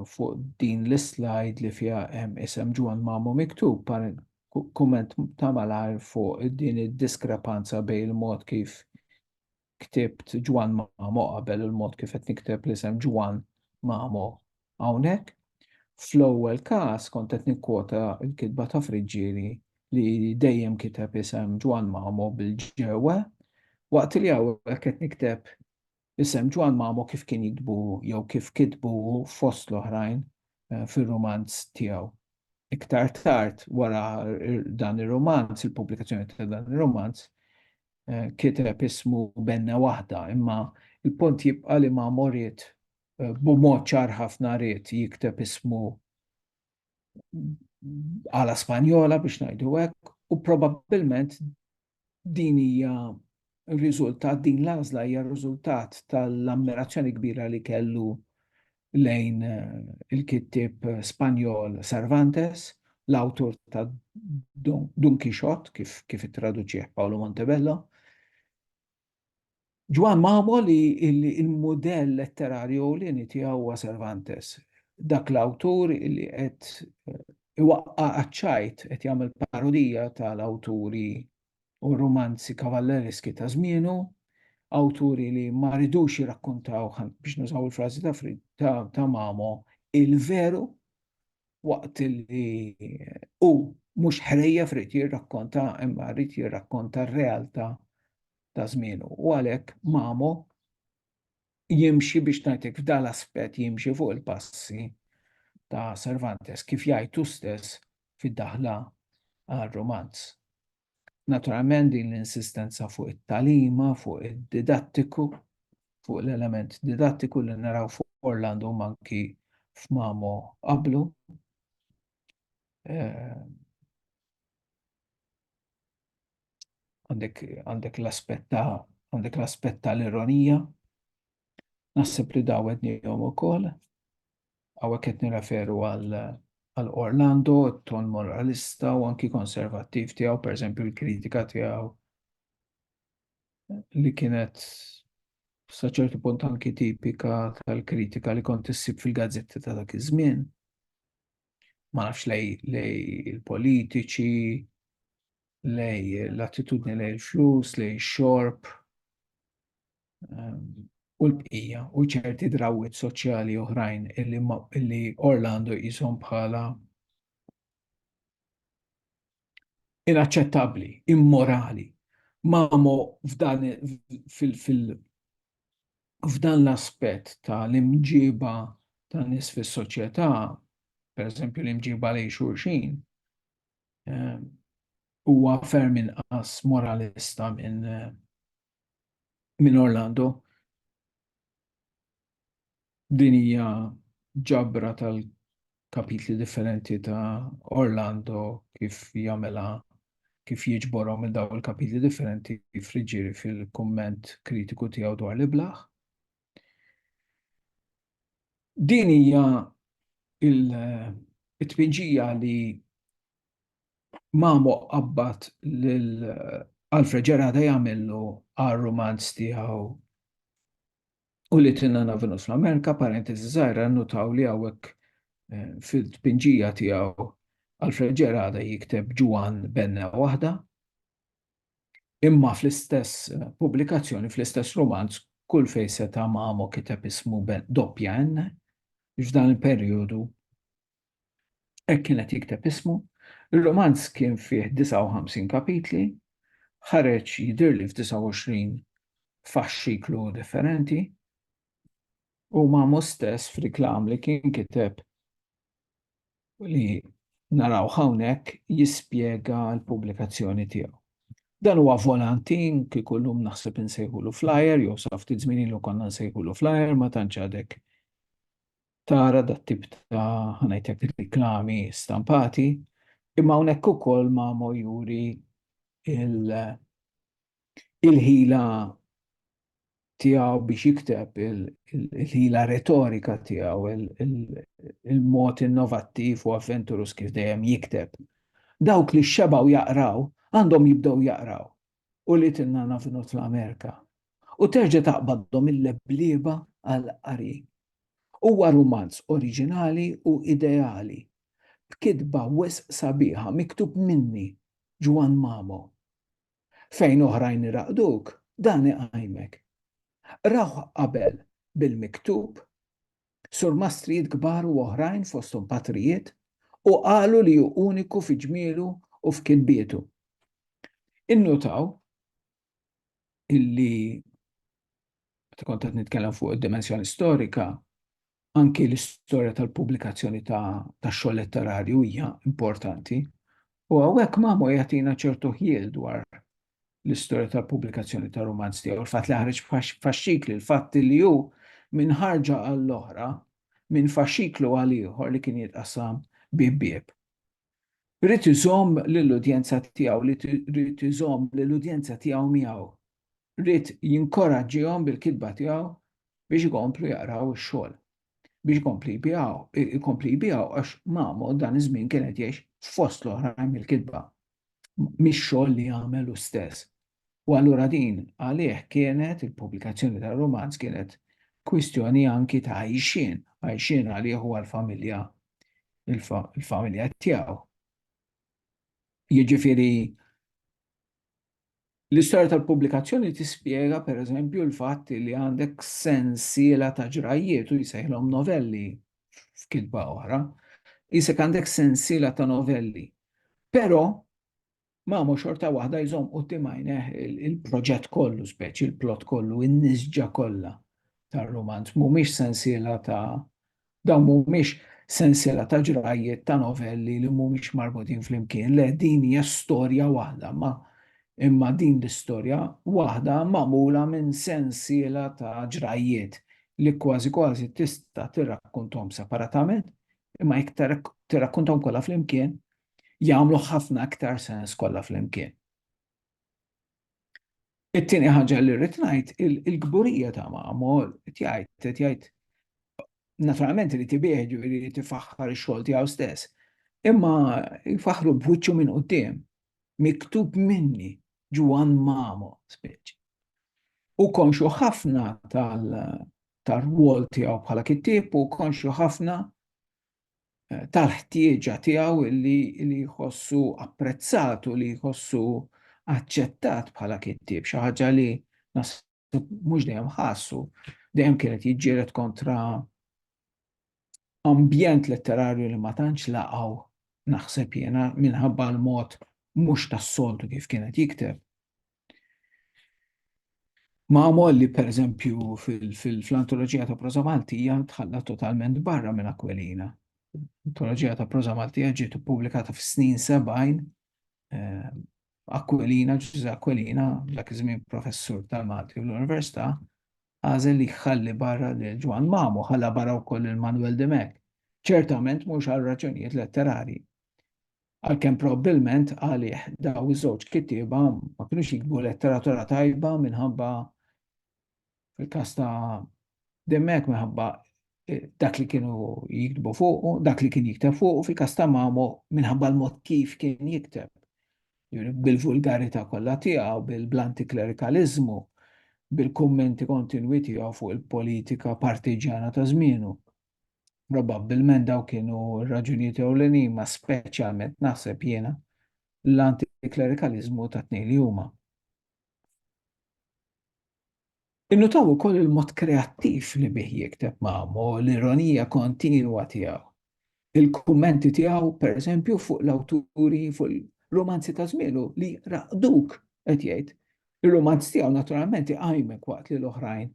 fuq din l-islajd li fiha hemm isem Ġwann Mamu miktub, kumment ta' malajr fuq din id-diskrepanza bejn il-mod kif ktibt Ġwann Mamo qabel il-mod kif qed nikteb l-isem Ġwann Mamo hawnhekk. Fl-ewwel każ kont qed nikkwota l-kitba ta' Friġġieri li dejjem kiteb isem Ġwann Mamo bil-ġewwe, waqt li hawnhekk qed nikteb isem Ġwann Mamo kif kien jiktbu jew kif kitbu hu fost l-oħrajn fir-rumanz tiegħu. Iktar tard wara dan ir-rumanz, il-pubblikazzjoni ta' dan ir-rumanz, kiteb ismu benna waħda, imma il-punt jibqa' li ma morid b'mod ċar ħafna ried jikteb ismu għala Spanjola biex ngħidu hekk, u probabbilment din hija riżultat din l-għażla hija riżultat tal-ammirazzjoni kbira li kellu lejn il-kittieb Spanjol Cervantes, l-awtur ta' Dun Quixote, kif ittraduċih Paolo Montebello. Ġwann Mamo li l-mudell letterarju ewlieni tiegħu huwa Cervantes, dak l-awtur li qed iwaqqa' għaċ-ċajt, qed jagħmel parodija tal-awturi u r-rumanzi kavalleriski ta' żmienu, awturi li ma ridux jirrakkuntaw, biex nużaw il-frażi ta' Mamo, il-veru, waqt li hu mhux ħrejjef ried jirrakkonta imma ried jirrakkonta r-realtà ta' żmienu. U għalhekk Mamo jimxi biex ngħidlek f'dan l-aspett jimxi fuq il-passi ta' Cervantes kif jgħid hu stess fid-daħla għar-rumanz. Naturalment din l-insistenza fuq it-tagħlima, fuq id-didattiku, fuq l-element didattiku li naraw fuq Orlando manki f'Mamo qablu. Eh, għandek għandek l-aspett ta' għandek l-aspett ta' l-ironija. Naħseb li daw qed nihom ukoll. Hawnhekk qed nirreferu għal għal Orlando, ton moralista u anki konservattiv tiegħu, pereżempju l-kritika tiegħu li kienet sa ċertu punt anki tipika tal-kritika li kont issib fil-gazzetti ta' dak iż-żmien. ma nafx lej il-politiċi, lej l-attitudni lej il-flus, lej xorb ehm, u l-bqija u ċerti drawit soċjali oħrajn illi Orlando jizom bħala inaċċettabbli, immorali. Mamo f'dan f'dan l-aspett ta' l-imġieba ta' nies fis-soċjetà, pereżempju l-imġieba lejn xulxin, ehm, huwa ferm inqas moralista minn min Orlando. Din hija ġabra tal-kapitli differenti ta' Orlando kif jagħmilha kif jiġborhom minn dawn il-kapitli differenti friġġieri fil-kumment kritiku tiegħu dwar l-iblah. Din hija il-tpinġija li Mamo qabbat lil Alfred Gerada jagħmillu għar-rumanz tiegħu u li tinnana Venus fl-Amerika, parentesi żgħira, nutaw li hawnhekk eh, fil-tpinġija tiegħu Alfred Ġerada jikteb Ġwan Benna waħda, imma fl-istess eh, pubblikazzjoni, fl-istess romanz, kull fej seta' mamo kiteb ismu doppja N, f'dan il-perjodu Hekk kien qed jikteb ismu. Ir-rumanz kien fih 59 kapitli, ħareġ jidhirli f'29 faxxiklu differenti, u ma' hu stess f'riklam li kien kiteb li narawh hawnhekk jispjega l-pubblikazzjoni tiegħu. Dan huwa volantin, kieku llum naħseb insejħulu flyer, jew sa ftit żmien ilu konna nsejħulu flyer, ma tantx għadek tara dat-tip ta' ħa ngħidlek riklami stampati, imma hawnhekk ukoll Mamo juri il-ħila tiegħu biex jikteb, il-ħila retorika tiegħu, il-mod innovattiv u avventurus kif dejjem jikteb. Dawk li xebgħu jaqraw għandhom jibdew jaqraw. qulitilna navinu t'l-Amerika u terġa' taqbadhom il-leblieba għall-qari. Huwa rumanz oriġinali u ideali, b'kitba wisq sabiħa miktub minni, Ġwann Mamo. Fejn oħrajn iraqduk, dan iqajmek. Qrawh qabel bil-miktub surmastrijiet kbar u oħrajn fosthom patrijiet, u qalu li hu uniku fi ġmielu u f'kitbietu. Innutaw illi meta kont qed nitkellem fuq id-dimensjoni storika, anki l-istorja tal-pubblikazzjoni tax-xogħol letterarju hija importanti, u hawnhekk Mamo jagħtina ċertu ħjiel dwar l-istorja tal-pubblikazzjoni tar-rumanz tiegħu, il-fatt li ħareġ f'faxxikli, il-fatt li hu minn ħarġa għall-oħra, minn faxxiklu għal ieħor li kien jitqassam bieb bieb. Ried iżomm lill-udjenza tiegħu, ried iżomm lill-udjenza tiegħu miegħu. Ried jinkoraġġihom bil-kitba tiegħu biex ikomplu jaqraw ix-xogħol, biex ikompli jbigħu, ikompli jbigħu għax Mamo dan iż-żmien kien qed jgħix fost l-oħrajn mill-kitba, mix-xogħol li għamel hu stess. U allura din għalih kienet, il-pubblikazzjoni tar-rumanz kienet kwistjoni anki ta' għajxien, għajxien għalih u għall-familja, il-familja tiegħu. Jiġifieri L-istorja tal-pubblikazzjoni tispjega, pereżempju, l-fatt li għandek sensiela ta' ġrajjiet, u jsejħilhom novelli, f'kitba oħra, qisek għandek sensiela ta' novelli. Però, Mamo xorta waħda jżomm quddiem għajnejh il-proġett kollu, speċi il-plot kollu, in-nisġa kollha tar-rumanz, mhumiex sensiela ta' Dawn mhumiex sensiela ta' ġrajjiet ta' novelli li mhumiex marbutin flimkien, le din hija storja waħda ma' imma din l-istorja waħda magħmula minn sensiela ta' ġrajjiet li kważi kważi tista' tirrakkunthom separatament imma jekk tirrakkunthom kollha flimkien jagħmlu ħafna iktar sens kollha flimkien. It-tieni ħaġa li rrid ngħid il-kburija ta' Mamol qed jgħid qed jgħid naturalment li tibih ġifieri li tifaħħar ix-xogħol tiegħu stess. Imma jfaħħru b'wiċċu minn quddiem miktub minni Ġwan Mamo speċi. U konxu ħafna tal-rwol tiegħu bħala kittieb u konxu ħafna tal-ħtieġa tiegħu li jħossu apprezzat u li jħossu aċċettat bħala kittieb, xi ħaġa li mhux dejjem ħassu, dejjem kienet jiġġieled kontra ambjent letterarju li ma tantx laqgħu naħseb jiena minħabba l-mod mhux tas-soltu kif kienet jikteb. Magħmol li pereżempju fil-antoloġija ta' proża Maltija tħalla totalment barra minn Aquilina. Antoloġija ta' proża Maltija ġiet ippubblikata fis-snin 70 eh, Aquilina, Ġuża Aquilina, dak iż-żmien professur tal-Malti u l-Università, għażel li jħalli barra lil Ġwan Mamu, ħalla barra wkoll il-Manuel Demek. Ċertament mhux għal raġunijiet letterari. Għalkemm probbilment għalih dawn iż-żewġ kittieba ma kinux jiktbu letteratura tajba minħabba fil-każ ta' Dimmek minħabba eh, dak li kienu jiktbu fuqu, dak li kien jikteb fuqu fil-każ ta' Mamo minħabba l-mod kif kien jikteb. Bil-vulgarità kollha tiegħu, bil-blanti klerikaliżmu, bil-kummenti kontinwi tiegħu fuq il-politika partiġjana ta' żmienu. Probabbilment daw kienu raġunijiet ewlenin ma speċjalment naħseb jiena l-antiklerikalizmu ta' tnejn li huma. Innutaw ukoll il-mod kreattiv li bih jikteb Mamo, l-ironija kontinwa tiegħu. Il-kummenti tiegħu, pereżempju, fuq l-awturi, fuq il-romanzi ta' żmielu li raqduk qed jgħid. Ir-romanz tiegħu naturalment iqajmek waqt li l-oħrajn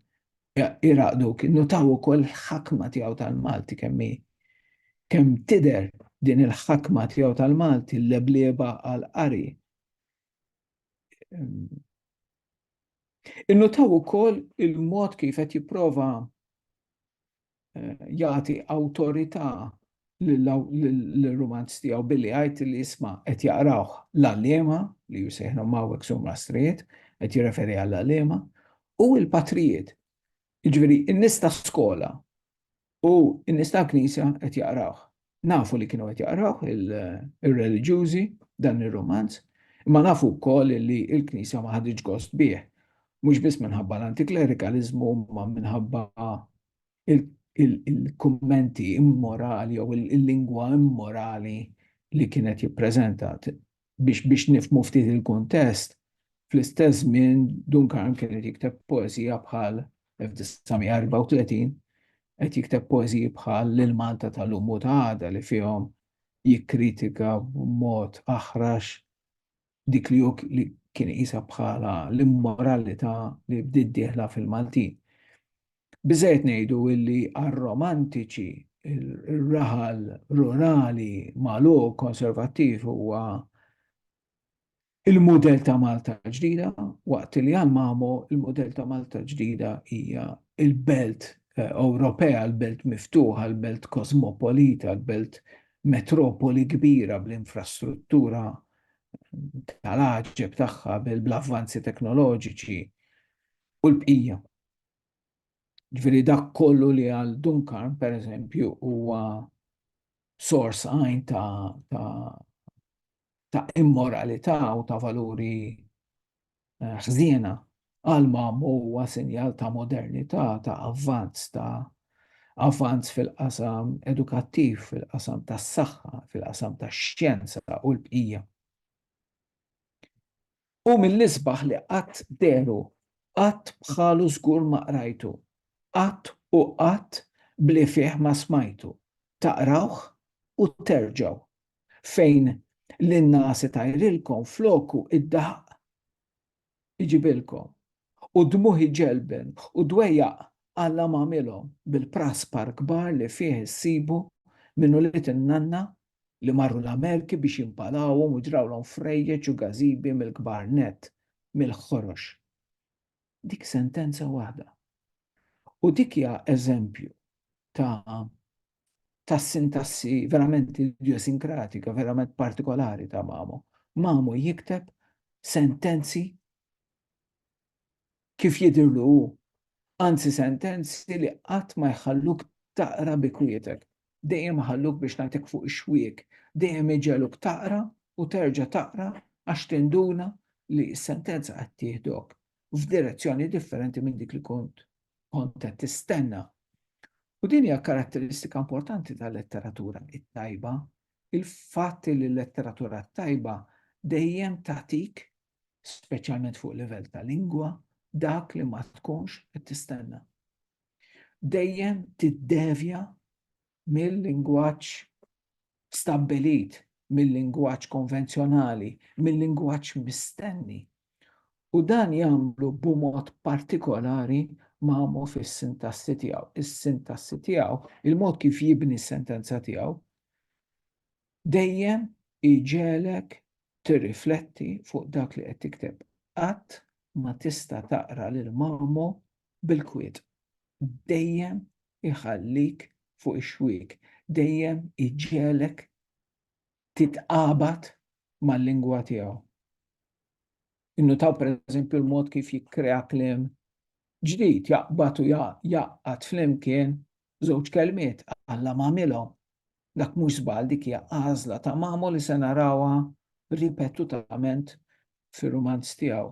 iraqdu kien notaw ukoll il-ħakma tiegħu tal-Malti kemm hi kemm tidher din il-ħakma tiegħu tal-Malti l-leblieba għal qari. Innutaw ukoll il-mod kif qed jipprova jagħti awtorità l-rumanz tiegħu billi għajt li jisma qed jaqrawh l-għalliema li jisejħnu mawek sum rastrijiet, qed jirreferi għall għalliema u l-patrijiet. Ġviri, n-nista skola u n-nista knisja qed jaqrawh. nafu li kienu qed jaqrawh ir-reliġjużi dan ir-romanz, imma nafu wkoll li l-Knisja ma ħaditx gost bih, mhux biss minħabba l-antiklerikaliżmu ma minħabba il-kummenti immorali jew il-lingwa immorali li kienet jippreżenta. biex biex nifhmu ftit il-kuntest, fl-istess żmien Duncan kien qed jikteb poeżija bħal, 1934, qed jikteb poeżiji bħal L-Malta ta' lum u ta' għada li fihom jikkritika b'mod aħrax dik li hu li kien iqisha bħala l-immoralità li bdiet dieħla fil-Maltin. Biżżejjed ngħidu illi għar-Romantiċi r-raħal rurali magħluq konservattiv huwa l-mudell ta' Malta l-ġdida, waqt li għal Mamo l-mudell ta' Malta l-ġdida hija l-belt Ewropea, l-belt miftuħa, l-belt kosmopolita, l-belt metropoli kbira bl-infrastruttura tal-għaġeb tagħha, bl-avvanzi teknoloġiċi u l-bqija. Ġifieri dak kollu li għal Dunkarm, per eżempju, huwa sors għajn ta', ta, ta immoralità u ta' valuri eh, ħżiena għal mamu huwa sinjal ta' modernità, ta' avvanz, ta' avvanz fil-qasam edukattiv, fil-qasam tas saħħa fil-qasam tax xjenza u l-bqija. Hu mill-isbaħ li qatt dehru, qatt bħalu żgur ma qrajtu, qatt u qatt bli fih ma smajtu, taqrawh u terġgħu, fejn l-innaas itajrilkom floku d-daħq iġibilkom, u d-dmugħ iġelben u dwejjaq Alla m'għamilhom bil-praspar kbar li fih issibu minn ulied in-nanna li marru l-Amerki biex jimpalawhom u ġrawlhom frejjeġ u gażibi mill-kbar nett, mill-ħorox. Dik sentenza waħda. U dik hija eżempju ta' ta' sintassi verament idiosinkratika, verament partikolari ta' Mamo. Mamo jikteb sentenzi kif jidhirlu hu, anzi sentenzi li qatt ma jħalluk taqra bi kwietek, dejjem iħalluk biex nagħtik fuq ix-xwiek, dejjem iġegħluk taqra u terġa' taqra għax tinduna li s-sentenza qed tieħdok f'direzzjoni differenti minn dik li kont kont qed tistenna. U din hija karatteristika importanti tal-letteratura it-tajba, il-fatt li l-letteratura t-tajba dejjem tagħtik speċjalment fuq livell ta' lingwa, dak li ma tkunx qed tistenna. Dejjem tiddevja mill-lingwaġġ stabbilit, mill-lingwaġġ konvenzjonali, mill-lingwaġġ mistenni. U dan jagħmlu b'mod partikolari mamu fis-sintassi tiegħu. Is-sintassi tiegħu, il-mod kif jibni s-sentenza tiegħu, Dejjem iġegħlek tirrifletti fuq dak li qed tikteb. Qatt ma tista' taqra lil Mamo bil-kwiet. Dejjem iħallik fuq ix-xwiek. Dejjem iġegħlek titqabad mal-lingwa tiegħu. Innutaw pereżempju l-mod kif jikkrea kliem ġdid, jaqbad u jgħaqqad flimkien żewġ kelmiet, Alla m'għamilhom. Dak mhux żball, dik hija għażla ta' Mamo li se narawha ripetutament fir-rumanz tiegħu.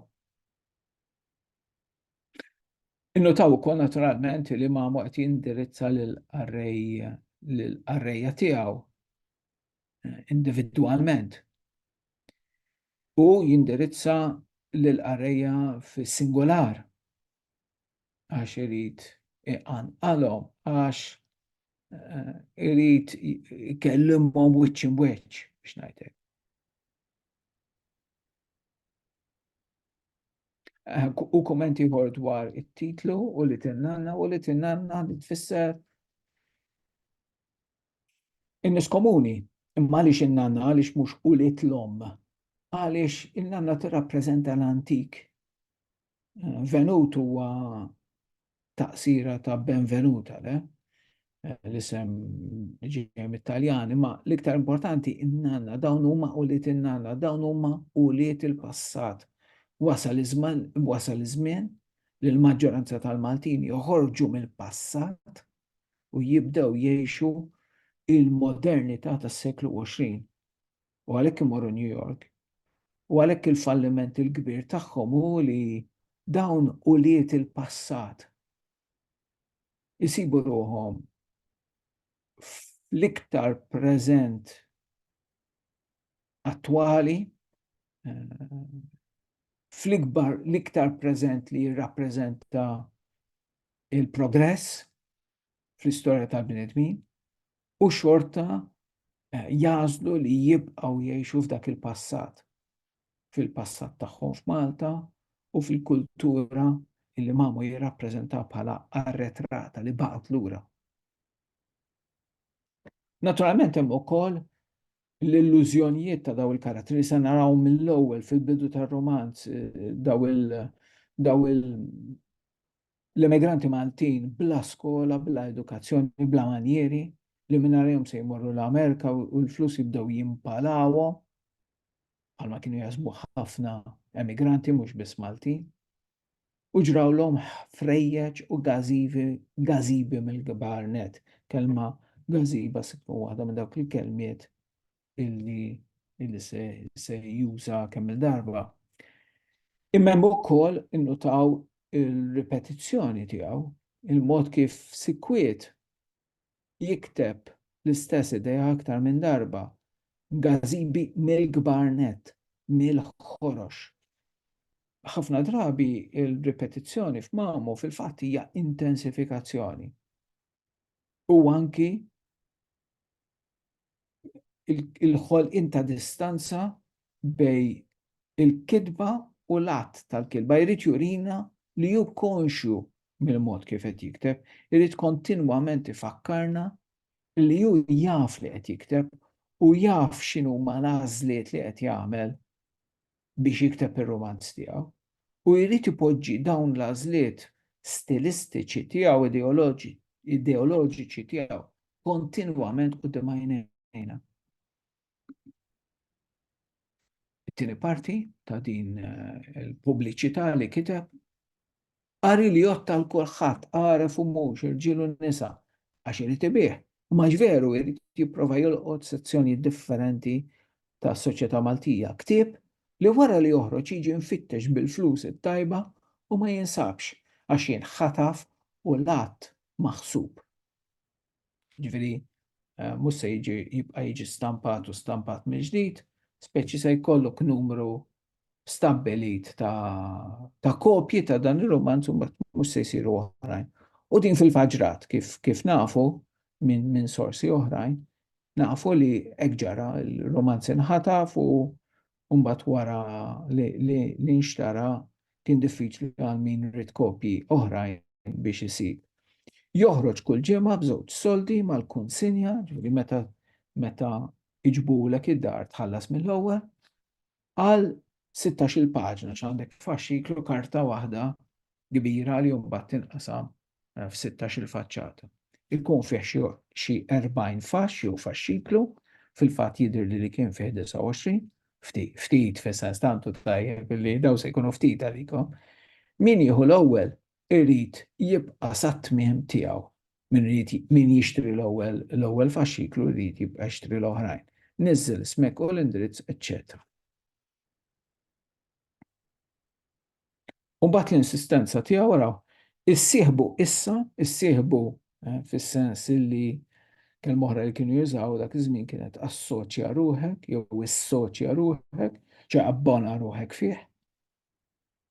Innutaw ukoll naturalment li Mamo qed jindirizza lill-qarrejja tiegħu individwalment. u jindirizza lill-qarrejja fis-singular għax irid iqanqalhom għax eh, irid ikellimhom wiċċ imweċċ biex ngħidlek. Eh, u kommenti ieħor dwar it-titlu u li tinnanna u li tinnanna li tfisser In-nies komuni, imma għaliex in-nanna, għaliex mhux ulied l-omm? Għaliex in-nanna tirrappreżenta l-antik. Venut huwa taqsira ta' Benvenuta, le? L-isem ġej mit-Taljan, imma l-iktar importanti in-nanna, dawn huma ulied in-nanna, dawn huma ulied il-passat. Wasal iż-żmien li l-maġġoranza tal-Maltin joħorġu mill-passat u jibdew jgħixu il-modernità tas-seklu 20 u għalhekk imorru New York u għalhekk il-falliment il-kbir tagħhom hu li dawn ulied il-passat isibu ruhom fl-iktar preżent attwali eh, fl-ikbar l-iktar preżent li jirrappreżenta il-progress fl-istorja tal-bnedmin u xorta eh, jażlu li jibqgħu jgħixu f'dak il-passat, fil-passat tagħhom f'Malta u fil-kultura illi mamu jirrappreżenta bħala arretrata li baqgħet lura. Naturalment hemm ukoll l-illużjonijiet ta' dawn il-karattri nisa naraw mill-ewwel fil-bidu tar-romanz daw il daw il l-emigranti Maltin bla skola, bla edukazzjoni, bla manjieri li mingħajrhom se jmorru l-Amerika u l-flus jibdew jimpalawhom bħalma kienu jaħsbu ħafna emigranti mhux biss Maltin. u ġrawlhom ħfrejjeġ u gażivi, gażibi mill-kbar net. Kelma gażiba se tkun waħda minn dawk il-kelmiet illi illi se, se juża kemm il-darba. Imma hemm ukoll innutaw il-ripetizzjoni tiegħu, il-mod kif sikwiet jikteb l-istess idea aktar minn darba, gazimbi mill-kbar nett, mill-ħorox. Ħafna drabi il-ripetizzjoni f'mamu fil-fatt hija intensifikazzjoni. U anki il-ħolqien ta' distanza bej il-kidba u l-att tal-kidba. Jrid jurina li hu konxju mill-mod kif qed jikteb, irid kontinwament ifakkarna li hu jaf li qed jikteb u jaf x'inhuma l-għażliet li qed jagħmel biex jikteb ir-rumanz tiegħu u jrid ipoġġi dawn l-għażliet stilistiċi tiegħu ideoloġiċi tiegħu kontinwament quddiem għajnejna. It-tieni parti ta' din eh, il-pubbliċità li kiteb Qari li jgħodd għal kulħadd, għaref u mhux, irġiel u nisa, għax irid ibigħ, imma għax veru jrid jipprova jolqot sezzjonijiet differenti tas-soċjetà Maltija. Ktieb li wara li joħroġ jiġi mfittex bil-flus it-tajba u ma jinsabx għax jinħataf u l-għadd maħsub. Ġifieri eh, mhux se jiġi jibqa' jiġi stampat u stampat mill-ġdid, speċi se jkollok numru stabbilit ta', ta kopji ta' dan ir-romanz u mhux se jsiru oħrajn. U din fil-faġrat kif, kif nafu minn min sorsi oħrajn, nafu li hekk ġara l-romanz inħataf u u mbagħad wara li nxtara kien diffiċli għal min ried kopji oħrajn biex isib. Joħroġ kull ġimgħa b'żewġ soldi mal-kunsinja, ġifieri meta meta iġbulek id-dar tħallas mill-ewwel, għal 16-il paġna x'għandek faxxiklu karta waħda kbira li mbagħad tinqasam f'sittax-il faċċata. Ikun fih xi xi erbgħin faxx jew faxxiklu, fil-fatt jidhirli li kien fih 29, ftit, ftit fis-sens tantu tajjeb li daw se jkunu ftit għalikom. Min jieħu l-ewwel irid jibqa' sat-tmiem tiegħu. Min irid min jixtri l-ewwel l-ewwel faxxiklu jrid jibqa' jixtri l-oħrajn. Niżżel ismek u l-indirizz, eċċetera. U mbagħad l-insistenza tiegħu wara issieħbu issa, issieħbu eh, fis-sens li kelm oħra li kienu jużaw dak iż-żmien kienet assoċja ruħek jew issoċja ruħek, ċe abbona ruħek fih.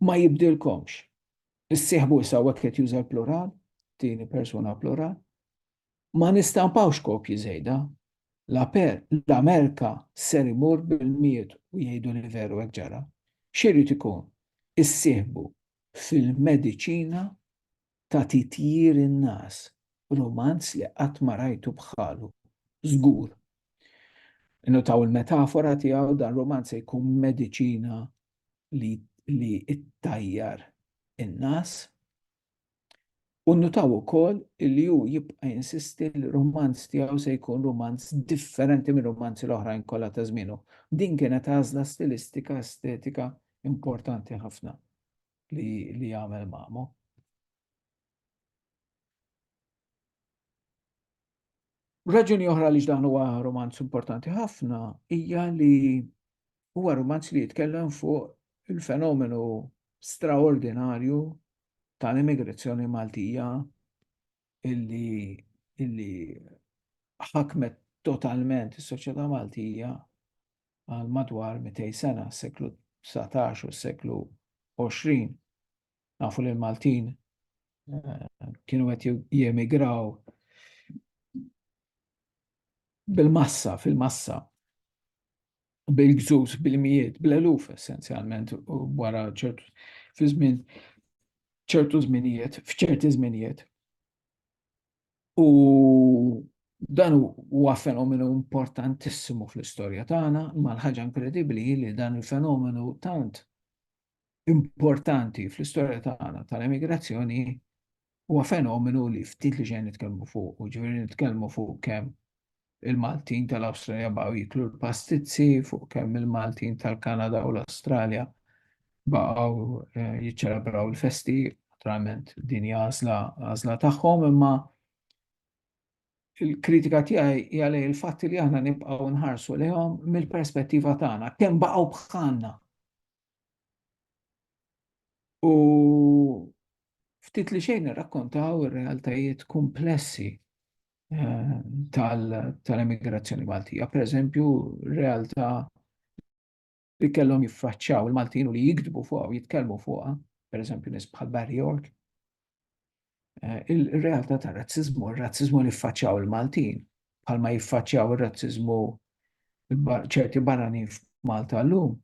Ma jibdilkomx. Issieħbu issa hekk qed juża l-plural, tieni persuna plural, Ma nistampawx kopji żejda. L-Amerka ser imur bil-miet u jgħidu li veru hekk ġara. X'irid ikun? Issieħbu fil-mediċina ta' titjir in-nas, rumanz li qatt ma rajtu bħalu, żgur. Innutaw il-metafora tiegħu, dan rumanz se jkun mediċina li ttajjar in-nas. U nnutaw ukoll li hu jibqa' jinsisti li r-rumanz tiegħu se jkun rumanz differenti mir-rumanzi l-oħrajn kollha ta' żmienu. Din kienet għażla stilistika, estetika importanti ħafna li għamel Mamo. Raġuni oħra li dan huwa romanz importanti ħafna hija li huwa romanz li jitkellem fuq il-fenomenu straordinarju tal-immigrazzjoni Maltija illi illi ħakmet totalment is-soċjetà Maltija għal madwar 200 sena, seklu 19 u seklu 20. Nafu li l-Maltin eh, kienu għet jemigraw bil-massa, fil-massa, bil-gżus, bil-mijiet, bil-eluf essenzjalment, u wara ċertu, fi żmien ċertu żminijiet, f'ċerti żminijiet. U dan huwa fenomenu importantissimu fl-istorja tagħna, ma l-ħaġa inkredibbli li dan il-fenomenu tant importanti fl-istorja tagħna tal-emigrazzjoni huwa fenomenu li ftit li ġejn nitkellmu fuq, u ġifieri nitkellmu fuq kemm il-Maltin tal-Awstralja baqgħu jiklu l-pastizzi, fuq kemm il-Maltin tal-Kanada u l-Awstralja baqgħu eh, jiċċelebraw il-festi, naturalment din għażla għażla tagħhom imma il-kritika tiegħi hija lej il-fatt li aħna nibqgħu nħarsu lejhom mill-perspettiva tagħna kemm baqgħu bħalna U ftit li xejn irrakkontaw ir-realtajiet komplessi eh, tal-emigrazzjoni Maltija. Per eżempju, realtà li kellhom jiffaċċaw il-Maltin u li jikdbu fuqha u jitkellmu fuqha, per eżempju nies bħal Barry York, Eh, il-realtà ta' razzizmu, il-razzizmu li faċċaw il-Maltin, bħalma jiffaċċaw il-razzizmu ċerti barani f'Malta l-lum,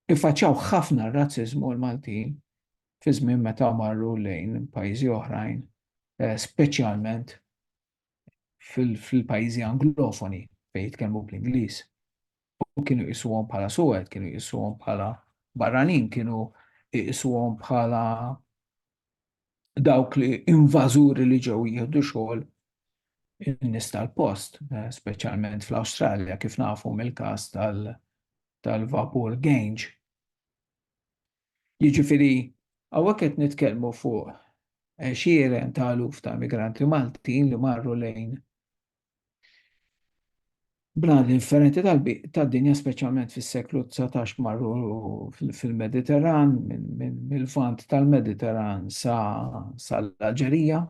jiffaċċaw ħafna razzizmu l-Maltin fi żmien meta marru lejn pajjiżi oħrajn, eh, speċjalment fil-pajjiżi anglofoni fejn jitkellmu bl-Ingliż. u kienu jqisuhom bħala suwed, kienu jqisuhom bħala barranin, kienu jqisuhom bħala dawk li invażuri li ġew jieħdu xogħol in-nies tal-post, eh, speċjalment fl-Awstralja, kif nafu mill-każ tal-vapur Gange. Jiġifieri, hawnhekk qed nitkellmu fuq eh, xieren ta' luf ta' migranti Maltin li marru lejn Bnadi differenti tad-dinja, speċjalment fis-seklu dsatax marru fil-Mediterran, mill-Lvant tal-Mediterran sa l-Alġerija,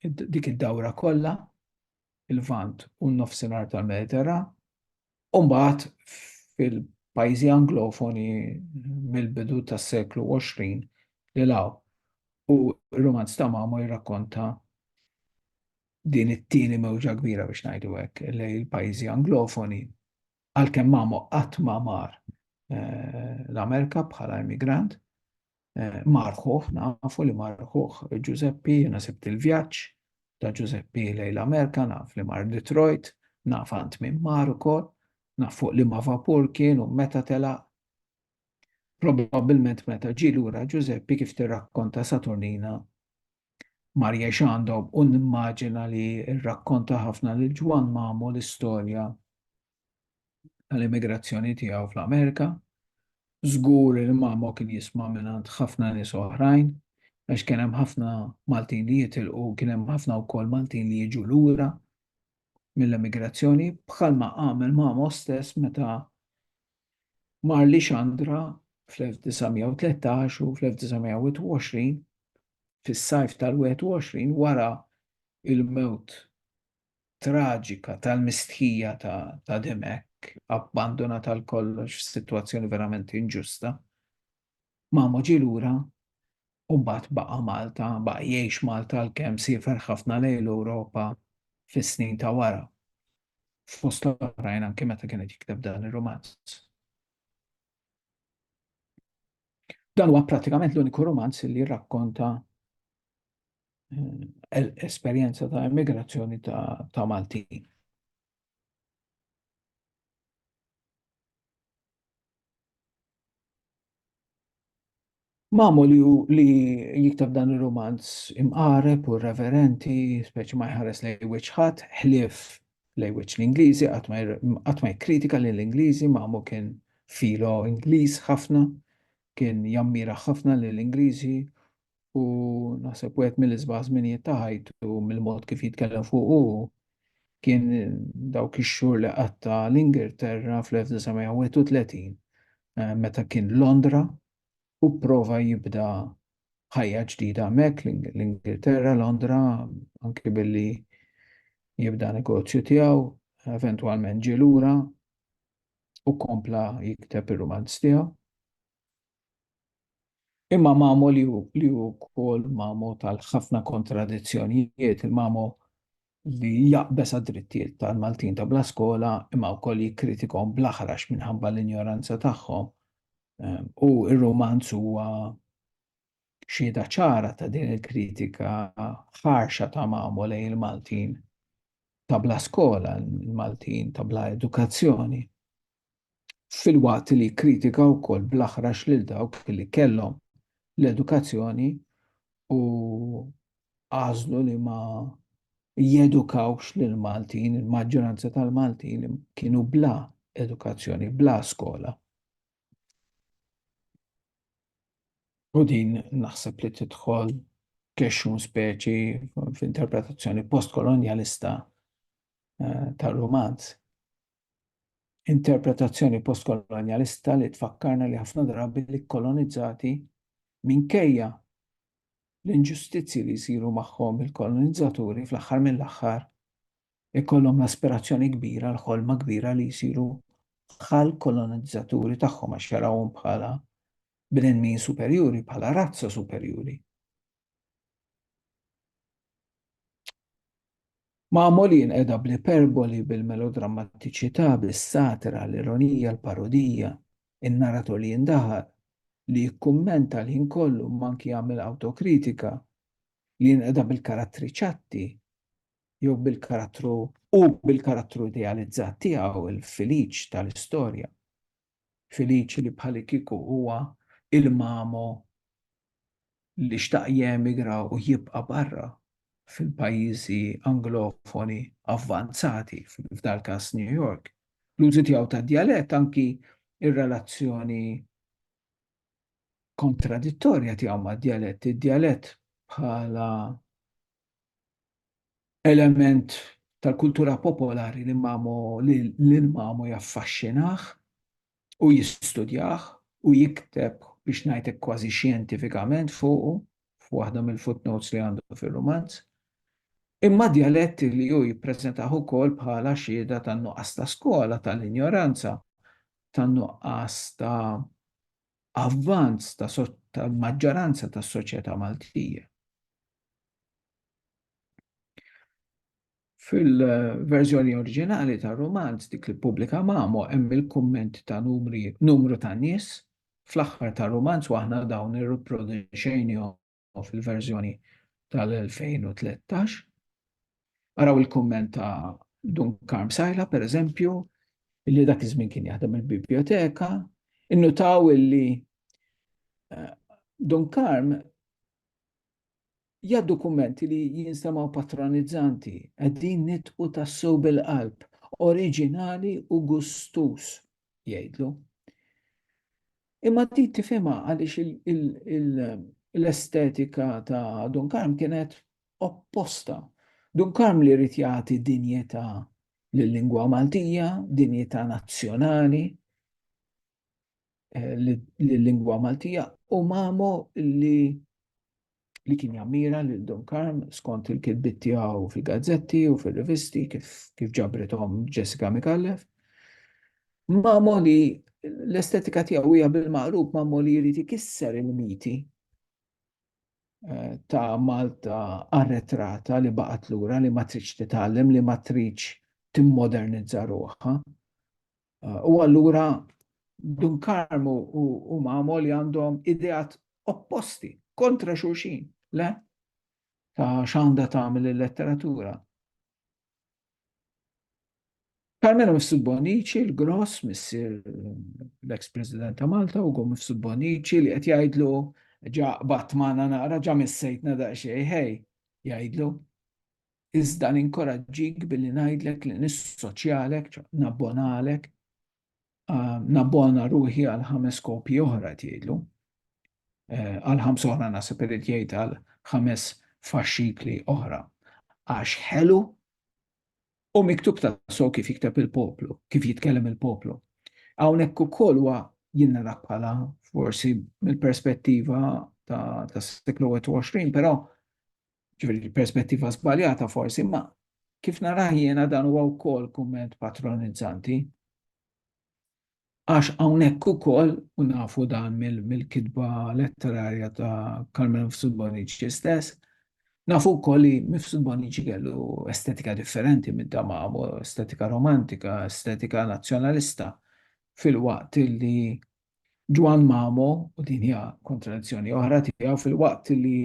dik id-dawra kollha, il-Lvant u n-Nofsinhar tal-Mediterran, U mbagħad fil-pajjiżi Anglofoni mill-bidu tas-seklu 20 lil hawn. U r-rumanz ta' Mamo jirrakkonta din it-tieni mewġa kbira biex ngħidu hekk lej il-pajjiżi anglofoni għalkemm Mamo qatt ma mar eh, l-Amerika bħala immigrant, eh, marħuħ, nafu li marħuħ Ġużeppi, jena sebt il-vjaġġ ta' Ġużeppi lejn l-Amerika, naf li mar Detroit, naf għand minn mar ukoll, naf fuq li ma vapur kien u meta tela' Probabilment meta ġi lura Ġużeppi kif tirrakkonta Saturnina mar jiex għandhom u nimmaġina li rrakkonta ħafna lil Ġwan Mamu l-istorja tal-immigrazzjoni tiegħu fl-Amerika. Żgur li Mamo kien jisma' mingħand ħafna nies oħrajn għax kien hemm ħafna Maltin li jitilqu, kien hemm ħafna wkoll Maltin li jiġu lura mill-emigrazzjoni bħalma għamel Mamo stess meta mar li Xandra fl-1913 u fl-1920 fis-sajf tal-21 wara il-mewt traġika tal-mistħija ta' ta' Dimech abbandunat għal kollox f'sitwazzjoni verament inġusta. Mamu ġie lura u mbagħad baqa' Malta, baqa' jgħix Malta għalkemm siefer ħafna lejn l-Ewropa fis-snin ta' wara. Fost l-oħrajn anke meta kien qed jikteb dan ir-rumanz. Dan huwa prattikament l-uniku rumanz li jirrakkonta eh, esperjenza ta' immigrazzjoni ta', ta Maltin. Mamu li, li jiktab dan il-romanz imqareb u reverenti, speċi ma jħares lej wiċħat, ħlif lej wiċ l-Ingliżi, għatma kritika li l-Ingliżi, mamu kien filo Ingliż ħafna, kien jammira ħafna li l-Ingliżi u naħseb wieħed mill-isbaħ żminijiet ta' ħajtu mill-mod kif jitkellem fuq u kien dawk ix-xhur li qatta l-Ingilterra fl-1931 eh, meta kien Londra u prova jibda ħajja ġdida hemmhekk l-Ingilterra, Londra, anke billi jibda negozju tiegħu, eventwalment ġie lura u kompla jikteb ir-rumanz tiegħu. Imma Mamo li hu li hu wkoll Mamo tal-ħafna kontradizzjonijiet, il-Mamo li jaqbeż għad-drittijiet tal-Maltin ta' bla skola imma wkoll jikkritikahom bl-aħrax minħabba l-injoranza tagħhom, u r-rumanz huwa xhieda ċara ta' din il-kritika ħarxa ta' Mamo lejn il-Maltin ta' bla skola, il-Maltin ta' bla edukazzjoni. filwaqt li jikkritika wkoll bl-aħrax lil dawk li kellhom l-edukazzjoni u għażlu li ma jedukawx lil Maltin, il-maġġoranza tal-Maltin kienu bla edukazzjoni, bla skola. U din naħseb li tidħol kexxun speċi f'interpretazzjoni postkolonjalista eh, tal-romanz. Interpretazzjoni postkolonjalista li tfakkarna li ħafna drabi l-ikkolonizzati, minkejja l-inġustizzji li jsiru magħhom il-kolonizzaturi, fl-aħħar mill-aħħar ikollhom l-aspirazzjoni kbira, l-ħolma kbira li jsiru bħall-kolonizzaturi tagħhom għax jarawhom bħala bnedmin superjuri, bħala razza superjuri. Magħmulin qiegħda bl-iperboli, bil-melodrammatiċità, bis-satira, l-ironija, l-parodija, in-narratur li jindaħal, li jikkummenta l-ħin kollu imma anki jagħmel awtokritika, li jinqeda bil-karattri ċatti jew bil-karattru u bil-karattru idealizzat tiegħu, il-Filiċ tal-istorja. Felice li bħalikieku huwa il-mamo li xtaq jemigra u jibqa' barra fil-pajjiżi anglofoni avvanzati, f'dal-każ New York. L-użu tiegħu tad-djalett, anki r-relazzjoni kontradittorja tiegħu mad-djalett, id-djalett bħala element tal-kultura popolari li Mamo li lil Mamo jaffaxxinah u jistudjah u jikteb biex ngħidlek kważi xjentifikament fuqu f'waħda mill-footnotes li għandu fir-rumanz, imma djalett li hu jippreżentah ukoll bħala xhieda tan-nuqqas ta' skola, tal-injoranza, tan-nuqqas ta' avvanz tal-maġġoranza tas-soċjetà Maltija. Fil-verżjoni oriġinali tar-rumanz dik li ppubblika Mamo hemm il-kumment ta' numri numru ta' nies fl-aħħar tar-rumanz u aħna dawn irriproduċejnihom fil-verżjoni tal-2013. Araw il-kumment ta' Dun Karm Sajla, per eżempju, illi dak iż-żmien kien jaħdem il-biblioteka, innutaw illi Dun Karm jgħaddu kummenti li jinstemgħu patronizzanti, qegħdin nitqu tassew bil-qalb, oriġinali u gustuż, jgħidlu. Imma din tifhimha għaliex l-estetika ta' Dun Karm kienet opposta. Dun Karm li rrid jagħti dinjità lill-lingwa Maltija, dinjità nazzjonali, l-lingwa Maltija u mamu li li kien jammira lil Dun Karm skont il-kitbit tiegħu fil-gazzetti u fil-rivisti kif, kif ġabrithom Jessica Mikallef. Mamu li l-estetika tiegħu hija bil-maqrub mamu li jrid ikisser il-miti eh, ta' Malta arretrata li baqgħet lura li ma tridx titgħallem li ma tridx timmodernizza ruħha. U allura Dun Karmu u Mamo li għandhom ideat opposti, kontra xulxin, le? Ta' xanda tagħmel il-letteratura. Carmelo Mifsud Bonici, l-gross, missir l-ex-president ta' Malta, u għom Mifsud Bonici li qed jgħidlu ġa batmana naqra ġa missejtna daqsxejn, hej, jgħidlu. iżda ninkoraġġik billi ngħidlek li nissoċjalek, nabbonalek, nabbona ruħi għal ħames kopji oħra qed jgħidlu. Eh, għal ħams oħra naħseb irid jgħid għal ħames faxxikli oħra. Għax ħelu u miktub ta' so kif jikteb il-poplu, kif jitkellem il-poplu. Hawnhekk ukoll huwa jinnara bħala forsi mill-perspettiva ta' seklu 21, però Ġifieri l-perspettiva żbaljata forsi, imma kif narah jiena dan huwa wkoll kumment patronizzanti. Għax hawnhekk ukoll, u nafu dan mill-kitba letterarja ta' Carmelo Mifsud Bonnici stess, nafu wkoll li Mifsud Bonnici kellu estetika differenti minn ta' Mamo, estetika romantika, estetika nazzjonalista, filwaqt li Ġwann Mamo, u din hija kontradizzjoni oħra tiegħu, filwaqt li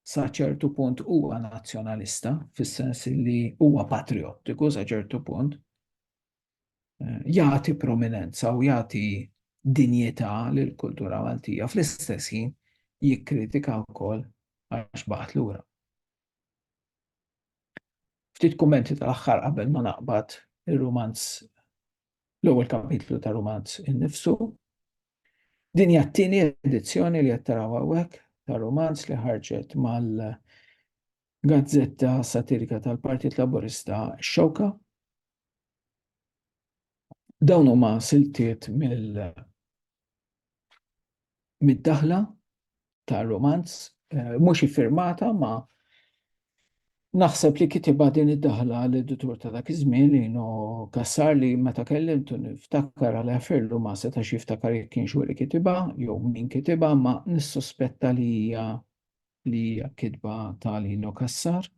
sa ċertu punt huwa nazzjonalista, fis-sens li huwa patriottiku sa ċertu punt, eh, jagħti prominenza u jagħti dinjità lill kultura Maltija fl-istess ħin jikkritika wkoll għax baqgħet lura. Ftit kummenti tal-aħħar qabel ma naqbad ir-rumanz l-ewwel kapitlu ta' rumanz innifsu Din hija t-tieni edizzjoni li qed taraw hawnhekk ta' rumanz li ħarġet mal-gazzetta satirika tal-Partit Laburista Xewka. Dawn huma siltiet mid-daħla ta' romanz, eh, mhux iffirmata ma naħseb li kitiba din id-daħla l-editur ta' dak iż-żmien li no kassar li meta kellimtu niftakar għal għafirlu ma setax jiftakar jekk kienx li kitiba jew min kitiba ma nissuspetta li hija li hija kitba ta' Lino Kassar.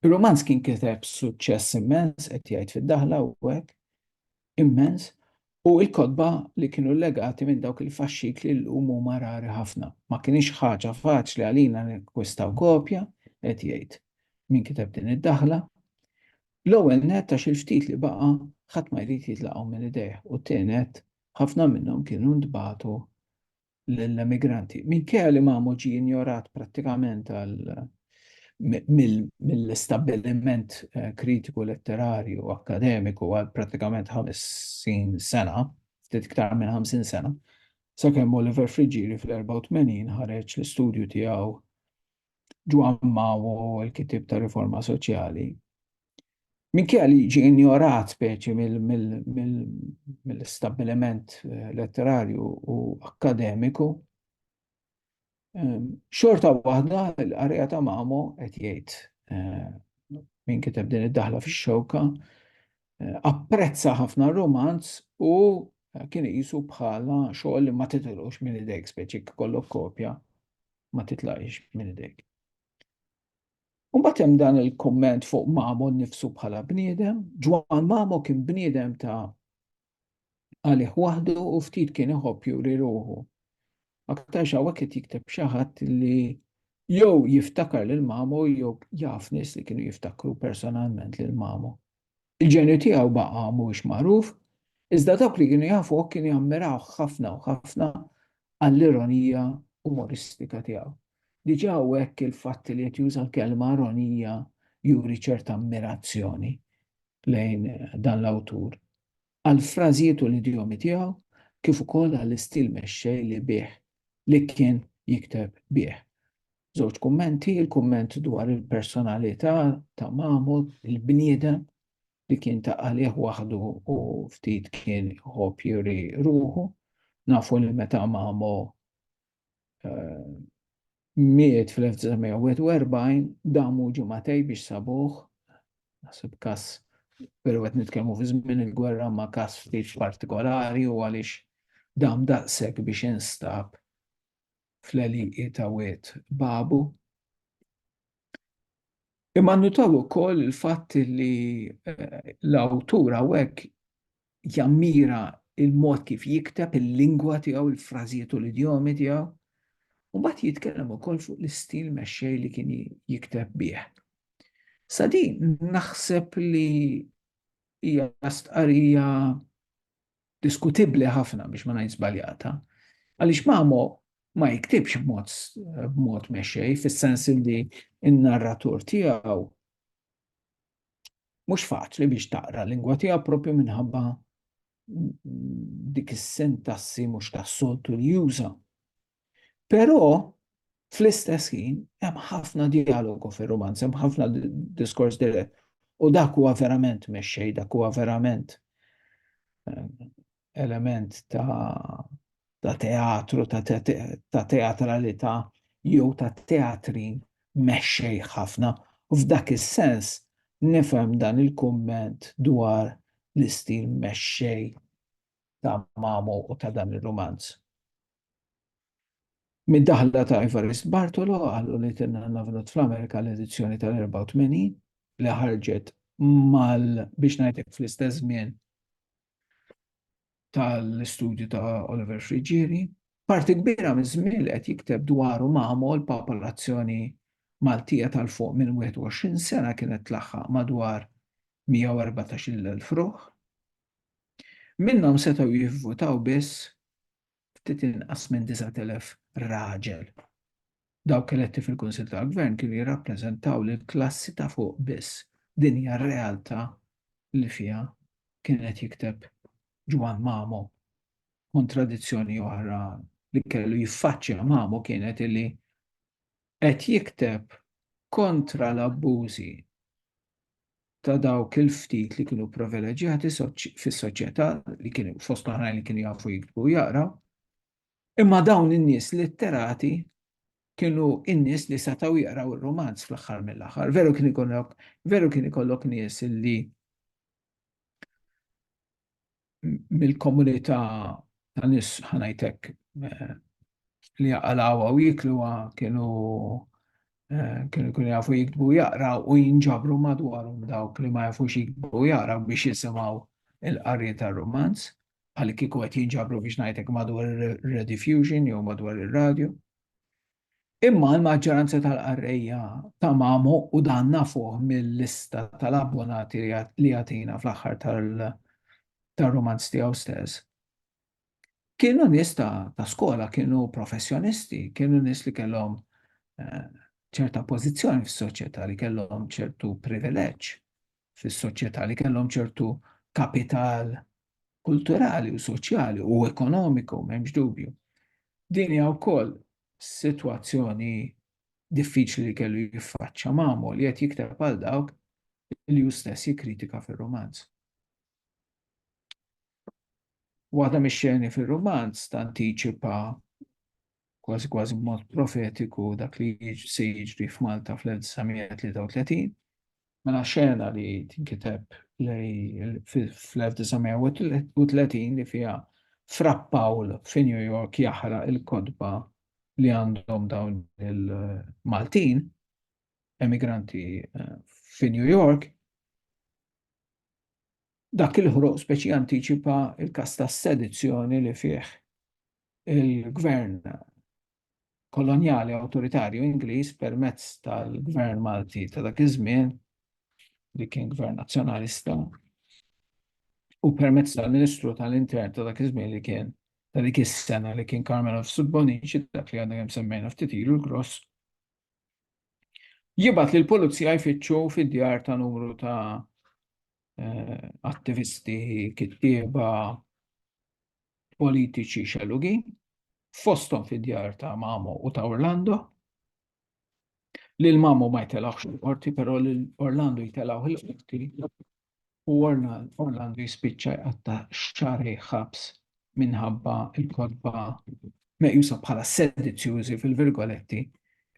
Ir-rumanz kien kiteb b'suċċess immens, qed jgħid fid-daħla hu hekk, immens, u l-kotba li kienu llegati minn dawk il-faxxikli llum huma rari ħafna. Ma kinitx ħaġa faċli għalina nakkwistaw kopja, qed jgħid min kiteb din id-daħla. L-ewwel nett għax il-ftit li baqa' ħadd ma jrid jitlaqgħu minn idejh u t-tieni nett ħafna minnhom kienu ntbagħtu lill-emigranti. Minkejja li Mamo ġie injorat prattikament mill-istabbiliment eh, kritiku letterarju u akkademiku għal prattikament 50 sena, ftit iktar minn 50 sena, sakemm Oliver Friġiri fl-84 ħareġ l-istudju tiegħu Ġwan Mawo l-kitib ta' riforma soċjali Minkejja li jiġi injorat speċi mill-istabbiliment eh, letterarju u akkademiku, ehm, xorta waħda l-qarja ta' Mamo qed jgħid eh, minn kiteb din id-daħla fix-xewka, eh, apprezza ħafna romanz u kien jisu bħala xogħol li ma titilux minn idejk speċi kollok kopja ma titlaqx minn idejk. U mbagħad hemm dan il-kumment fuq Mamo nnifsu bħala bniedem. Ġwan Mamo kien bniedem ta' għalih waħdu u ftit kien iħobb juri ruħu. Aktarx hawnhekk qed jikteb xi ħadd li jew jiftakar lil Mamo jew jaf nies li kienu jiftakru personalment lil Mamo. Il-ġenju tiegħu baqa' mhuwiex magħruf, iżda dawk li kienu jafuh kienu jammirawh ħafna u ħafna għall-ironija umoristika tiegħu. Diġà hawnhekk il-fatt li qed juża l-kelma ironija juri ċerta ammirazzjoni lejn dan l-awtur, għall-frażijiet u l-idjomi tiegħu kif ukoll għall-istil mexxej li bih li kien jikteb bih. Żewġ kummenti, il-kumment dwar il-personalità ta' Mahmud, il-bniedem li kien ta' għalih waħdu u ftit kien ħobb juri ruħu. Nafu li meta Mamo eh, miet fl-1941 damu ġumatej biex sabuħ, nasib kas pero għet nitkellmu fi żmien il-gwerra ma kas ftit partikolari u għaliex dam daqshekk biex instab fl-għelieqi ta' Wied Babu. Imma nnutaw ukoll il-fatt li eh, l-awtur hawnhekk jammira il-mod kif jikteb il-lingwa tiegħu, il-frażijiet u l-idjomi tiegħu, u mbagħad jitkellem ukoll fuq l-istil mexxej li kien jikteb bih. Sa din naħseb li hija stqarrija diskutibbli ħafna biex ma ngħid żbaljata, għaliex Mamo ma jiktibx b'mod b'mod mexxej fis-sens li n-narratur tiegħu mhux faċli biex taqra l-lingwa tiegħu propju minħabba dik is-sintassi mhux tas-soltu li juża. Però fl-istess ħin hemm ħafna dialogu fir-rumanz, hemm ħafna diskors dirett. U dak huwa verament mexxej, dak huwa verament eh, element ta' ta' teatru, ta' teatralità jew ta' teatri mexxej ħafna. U f'dak is-sens nifhem dan il-kumment dwar l-istil mexxej ta' Mamu u ta' dan ir-rumanz. Mid-daħla ta' Evarist Bartolo għal U Little Navnot fl-Amerika l-edizzjoni tal-84 li ħarġet mal biex ngħidlek fl-istess żmien tal-istudju ta' Oliver Friggieri, parti kbira miż-żmien li qed jikteb dwaru Mamo l-popolazzjoni Maltija ta' 'l fuq minn 21 sena kienet tlaħħaq madwar 114-il elf ruħ. Minnhom setgħu jivvutaw biss ftit inqas minn 9,000 raġel. Dawk eletti fil-Kunsill tal-Gvern kienu jirrappreżentaw lill-klassi ta' fuq biss. Din hija r-realtà li fiha kien qed jikteb Ġwann Mamo. Kontradizzjoni oħra li kellu jiffaċċja Mamo kienet illi qed jikteb kontra l-abbużi ta' dawk il-ftit li kienu privileġġjati fis-soċjetà li kienu fost oħrajn li kienu jafu jiktbu u jaqraw, imma dawn in-nies litterati kienu in-nies li setgħu jaqraw ir-rumanz fl-aħħar mill-aħħar. Veru kien ikollok, veru kien ikollok nies li mill-komunità ta' nies ħanajtek eh, li jaqalawa u jikluwa kienu eh, kienu kienu jafu jikbu jaqra u jinġabru madwarhom dawk li ma jafux jikbu jaqra biex jisimgħu il-qari tar-romanz bħal kieku qed jinġabru biex ngħidlek madwar ir-rediffusion jew madwar ir-radju. Imma l-maġġoranza tal-qarrejja ta' Mamo u dan nafuh mil-lista tal-abbonati li jagħtina fl-aħħar tar-rumanz tiegħu stess, kienu nies ta' skola, kienu professjonisti, kienu nies li kellhom ċerta pożizzjoni fis-soċjetà, li kellhom ċertu privileġġ. fis-soċjetà li kellhom ċertu kapital kulturali u soċjali u ekonomiku, m'hemmx dubju. Din hija wkoll sitwazzjoni diffiċli li kellu jiffaċċja magħmul li qed jikteb għal dawk li hu stess jikkritika fir-romanz. Waħda mix-xeni fir-romanz tantiċipa kważi kważi b'mod profetiku dak li se jiġri f'Malta fl-1933. Mela xena li tinkiteb fl-1930 li fiha Fra Pawl fi New York jaħraq il-kodba li għandhom dawn il-Maltin emigranti eh, fi New York dak il-ħruq speċi antiċipa il-kas ta' sedizzjoni li fih il-gvern kolonjali awtoritarju Ingliż permezz tal-gvern Malti ta' dak iż-żmien li kien gvern nazzjonalista u permezz tal-Ministru tal-Intern ta' dak iż-żmien li kien ta' dik is-sena li kien Carmelo Subbonici dak li għandna kemm semmejna ftit ilu l-gross jibat li l-pulizija jfittxu fid-djar ta' numru ta' eh, attivisti, kittieba, politiċi xellugin, fosthom fid-djar ta' Mamo u ta' Orlando. Lil Mamo ma jtelawx il-qorti, però lil Orlando jtelaw il-qorti u Orlando jispiċċa jqatta' xari ħabs minħabba il-kodba meqjusa bħala sedizzjużi fil-virgoletti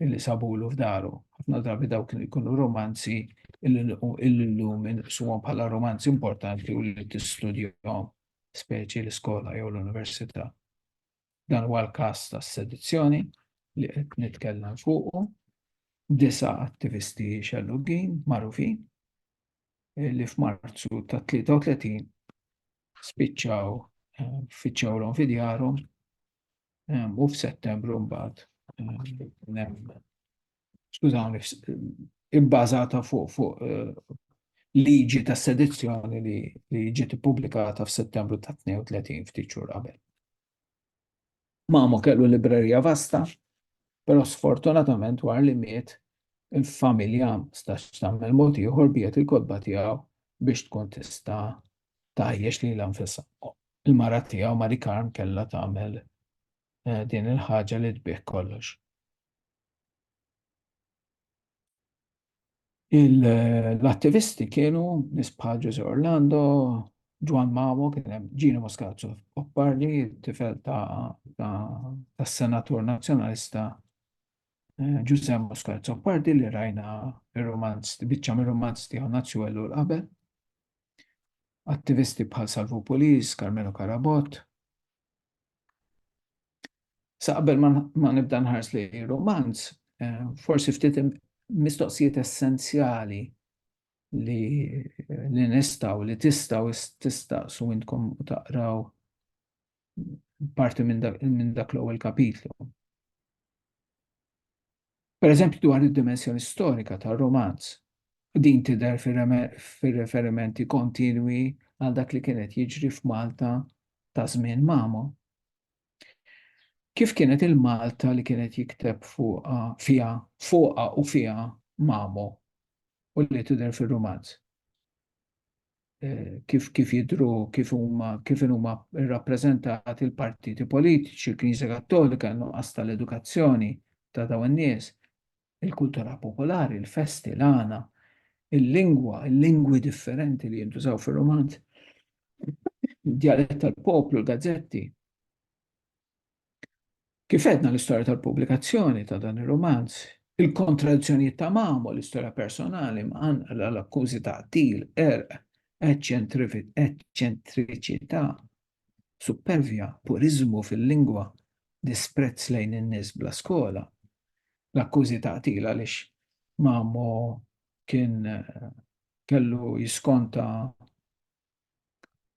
illi sabulu f'daru. Ħafna drabi dawk li jkunu romanzi illum inqsuhom bħala romanzi importanti u li tistudjahom speċi l-iskola jew l-università. Dan huwa l-każ tas-sedizzjoni li qed nitkellem fuqu. Disa attivisti xellugin magħrufin eh, li f'Marzu ta' 33 spiċċaw eh, fiċċaw l fidjarhom eh, u f'Settembru mbagħad skużawni, ibbażata fuq fu, eh, liġi ta' sedizzjoni li, li ġiet ippubblikata f'Settembru ta' 32 ftit xhur qabel. Mamo kellu librerija vasta, però sfortunatament war li miet il-familja stax tagħmel mod ieħor biet il-kodba tiegħu biex tkun tista' tajjex li l-anfissa. Il-mara tiegħu Mari Karm kellha tagħmel eh, din il-ħaġa li tbih kollox. L-attivisti kienu nies bħal Ġużè Orlando, Ġwann Mamo, kien hemm Gino Moscazzo Oppardi, tifel tas-Senatur Nazzjonalista Ġużè Moscazzo Oppardi li rajna r-rumanz, biċċa mir-rumanz tiegħu Nazzjuwellu l-Qabel. Attivisti bħal Salvu Pulis, Carmelo Carabott, Sa qabel ma nibda nħars li romanz, eh, forsi ftit mistoqsijiet essenzjali li li nistaw, li tistaw tistaqsu intkom u taqraw parti minn dak l-ewwel kapitlu. Pereżempju dwar id-dimensjoni storika tar-romanz, din tidher fir-referimenti kontinwi għal dak li kien qed jiġri f'Malta ta' żmien Mamo. Kif kienet il-Malta li kien qed jikteb fuqha, fiha, fuqha u fiha Mamo u li tidher fir-rumanz? kif kif jidru kif huma kif huma rrappreżentati l-partiti politiċi, il-Knisja Kattolika, nuqqas tal-edukazzjoni ta' dawn in-nies, il-kultura popolari, il-festi, l-għana, il-lingwa, il-lingwi differenti li jintużaw fir-romanz, dialett tal-poplu, l-gazzetti. Kif għedna l-istorja tal-pubblikazzjoni ta' dan ir-rumanz, il-kontradizzjonijiet ta' Mamo, l-istorja personali mqanqla, l-akkużi ta' qtil, qerq, eċċentriċità, suppervja, puriżmu fil-lingwa, disprezz lejn in-nies bla skola, l-akkużi ta' qtil għaliex Mamo kien kellu jiskonta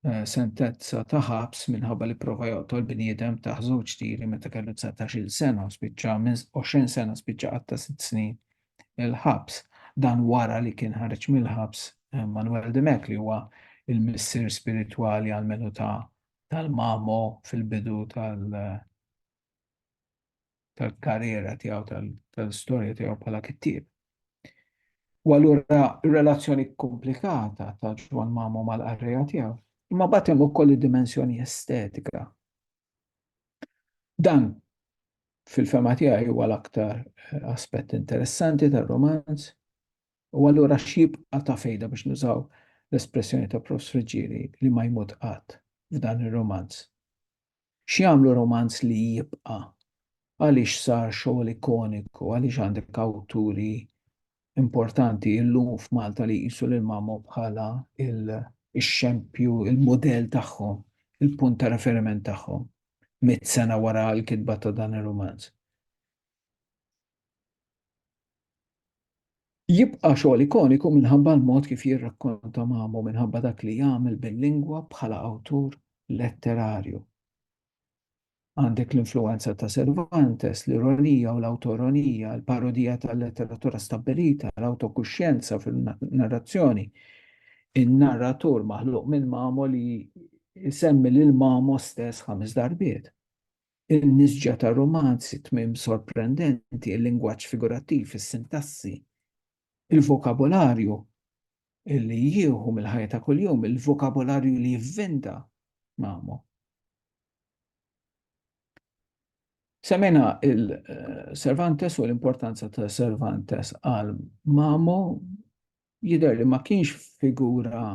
eh, sentenza ta' ħabs minħabba li prova joqtol bniedem ta' żewġ tiri meta kellu 19-il sena u spiċċa minn 20 sena spiċċa qatta' sitt snin il-ħabs. Dan wara li kien ħareġ mill-ħabs eh, Manuel Demek li huwa il-missier spiritwali għal-menu ta' tal-mamo fil-bidu tal- tal-karriera tiegħu tal-istorja tiegħu bħala kittieb. U allura relazzjoni komplikata ta' Ġwan Mamo mal-qarrejja tiegħu. Imma bagħad hemm ukoll id-dimensjoni estetika. Dan fil-fema tiegħi huwa l-aktar eh, aspett interessanti tar-romanz u allura x'jibqa' ta' fejda biex nużaw l-espressjoni ta' Prof. Friġġieri li ma jmut qatt f'dan ir-romanz. X'jagħmlu romanz li jibqa'? Għaliex sar xogħol ikoniku? Għaliex għandek awturi importanti illum f'Malta li jqisu lil Mamo bħala l-xempju, il-mudell tagħhom, il-punt ta' referiment tagħhom, mitt sena wara l-kitba ta' dan ir-rumanz? Jibqa' xogħol ikoniku minħabba l-mod kif jirrakkonta Mamo, minħabba dak li jagħmel bil-lingwa bħala awtur letterarju. Għandek l-influwenza ta' Cervantes, l-ironija u l-awtoironija, il-parodija tal-letteratura stabbilita, l-awtokuxjenza fin-narrazzjoni, in-narratur maħluq minn Mamo li jsemmi lil Mamo stess ħames darbiet. In-nisġa ta' rumanzi, tmiem sorprendenti, il-lingwaġġ figurattiv, is-sintassi, il-vokabolarju li jieħu mill-ħajja ta' kuljum, il-vokabolarju li jivvinta magħmu. Semmejna il-Cervantes u l-importanza ta' Cervantes għal Mamo, Jidher li ma kienx figura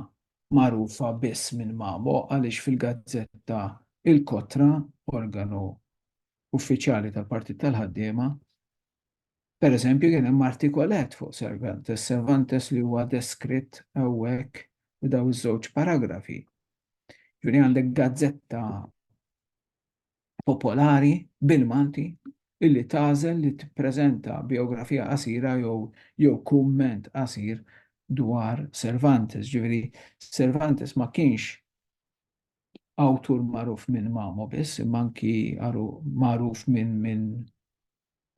magħrufa biss minn Mamo għaliex fil-gazzetta Il-Kotra, organu uffiċjali tal-Partit tal-Ħaddiema, pereżempju kien hemm artikolett fuq Cervantes, Cervantes li huwa deskritt hawnhekk f'dawn iż-żewġ paragrafi. Ġifieri għandek gazzetta popolari bil-Malti illi tagħżel li tippreżenta bijografija qasira jew jew kumment qasir dwar Cervantes. Ġifieri Cervantes ma kienx awtur magħruf minn Mamo biss, imma anki għaru magħruf minn minn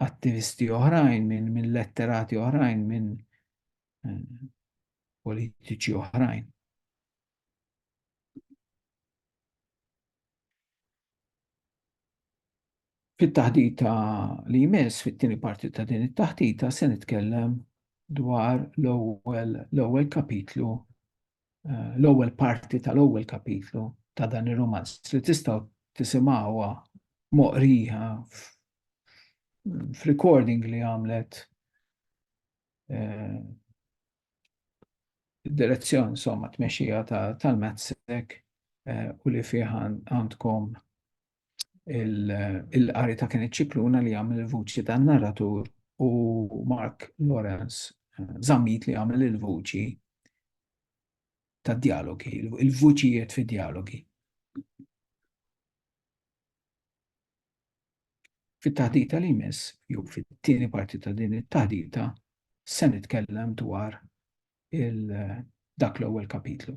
attivisti oħrajn, minn min letterati oħrajn, minn eh, politiċi oħrajn. Fit-taħdita li jmiss fit-tieni parti ta' din it-taħdita se nitkellem dwar l-ewwel l-ewwel kapitlu eh, l-ewwel parti tal-ewwel kapitlu ta' dan ir-romanz li tistgħu tisimgħuha moqrija f'recording li għamlet eh, direzzjoni somma tmexxija tal-MATSEC u li fih għandkom il-qari ta' kien iċ-ċikluna li għamil il-vuċi ta' narratur u Mark Lawrence zammit li għamil il-vuċi ta' dialogi, il-vuċijiet fi dialogi. Fit-taħdita li jmiss, jew fit-tieni parti ta' din it-taħdita, se nitkellem dwar dak l-ewwel kapitlu.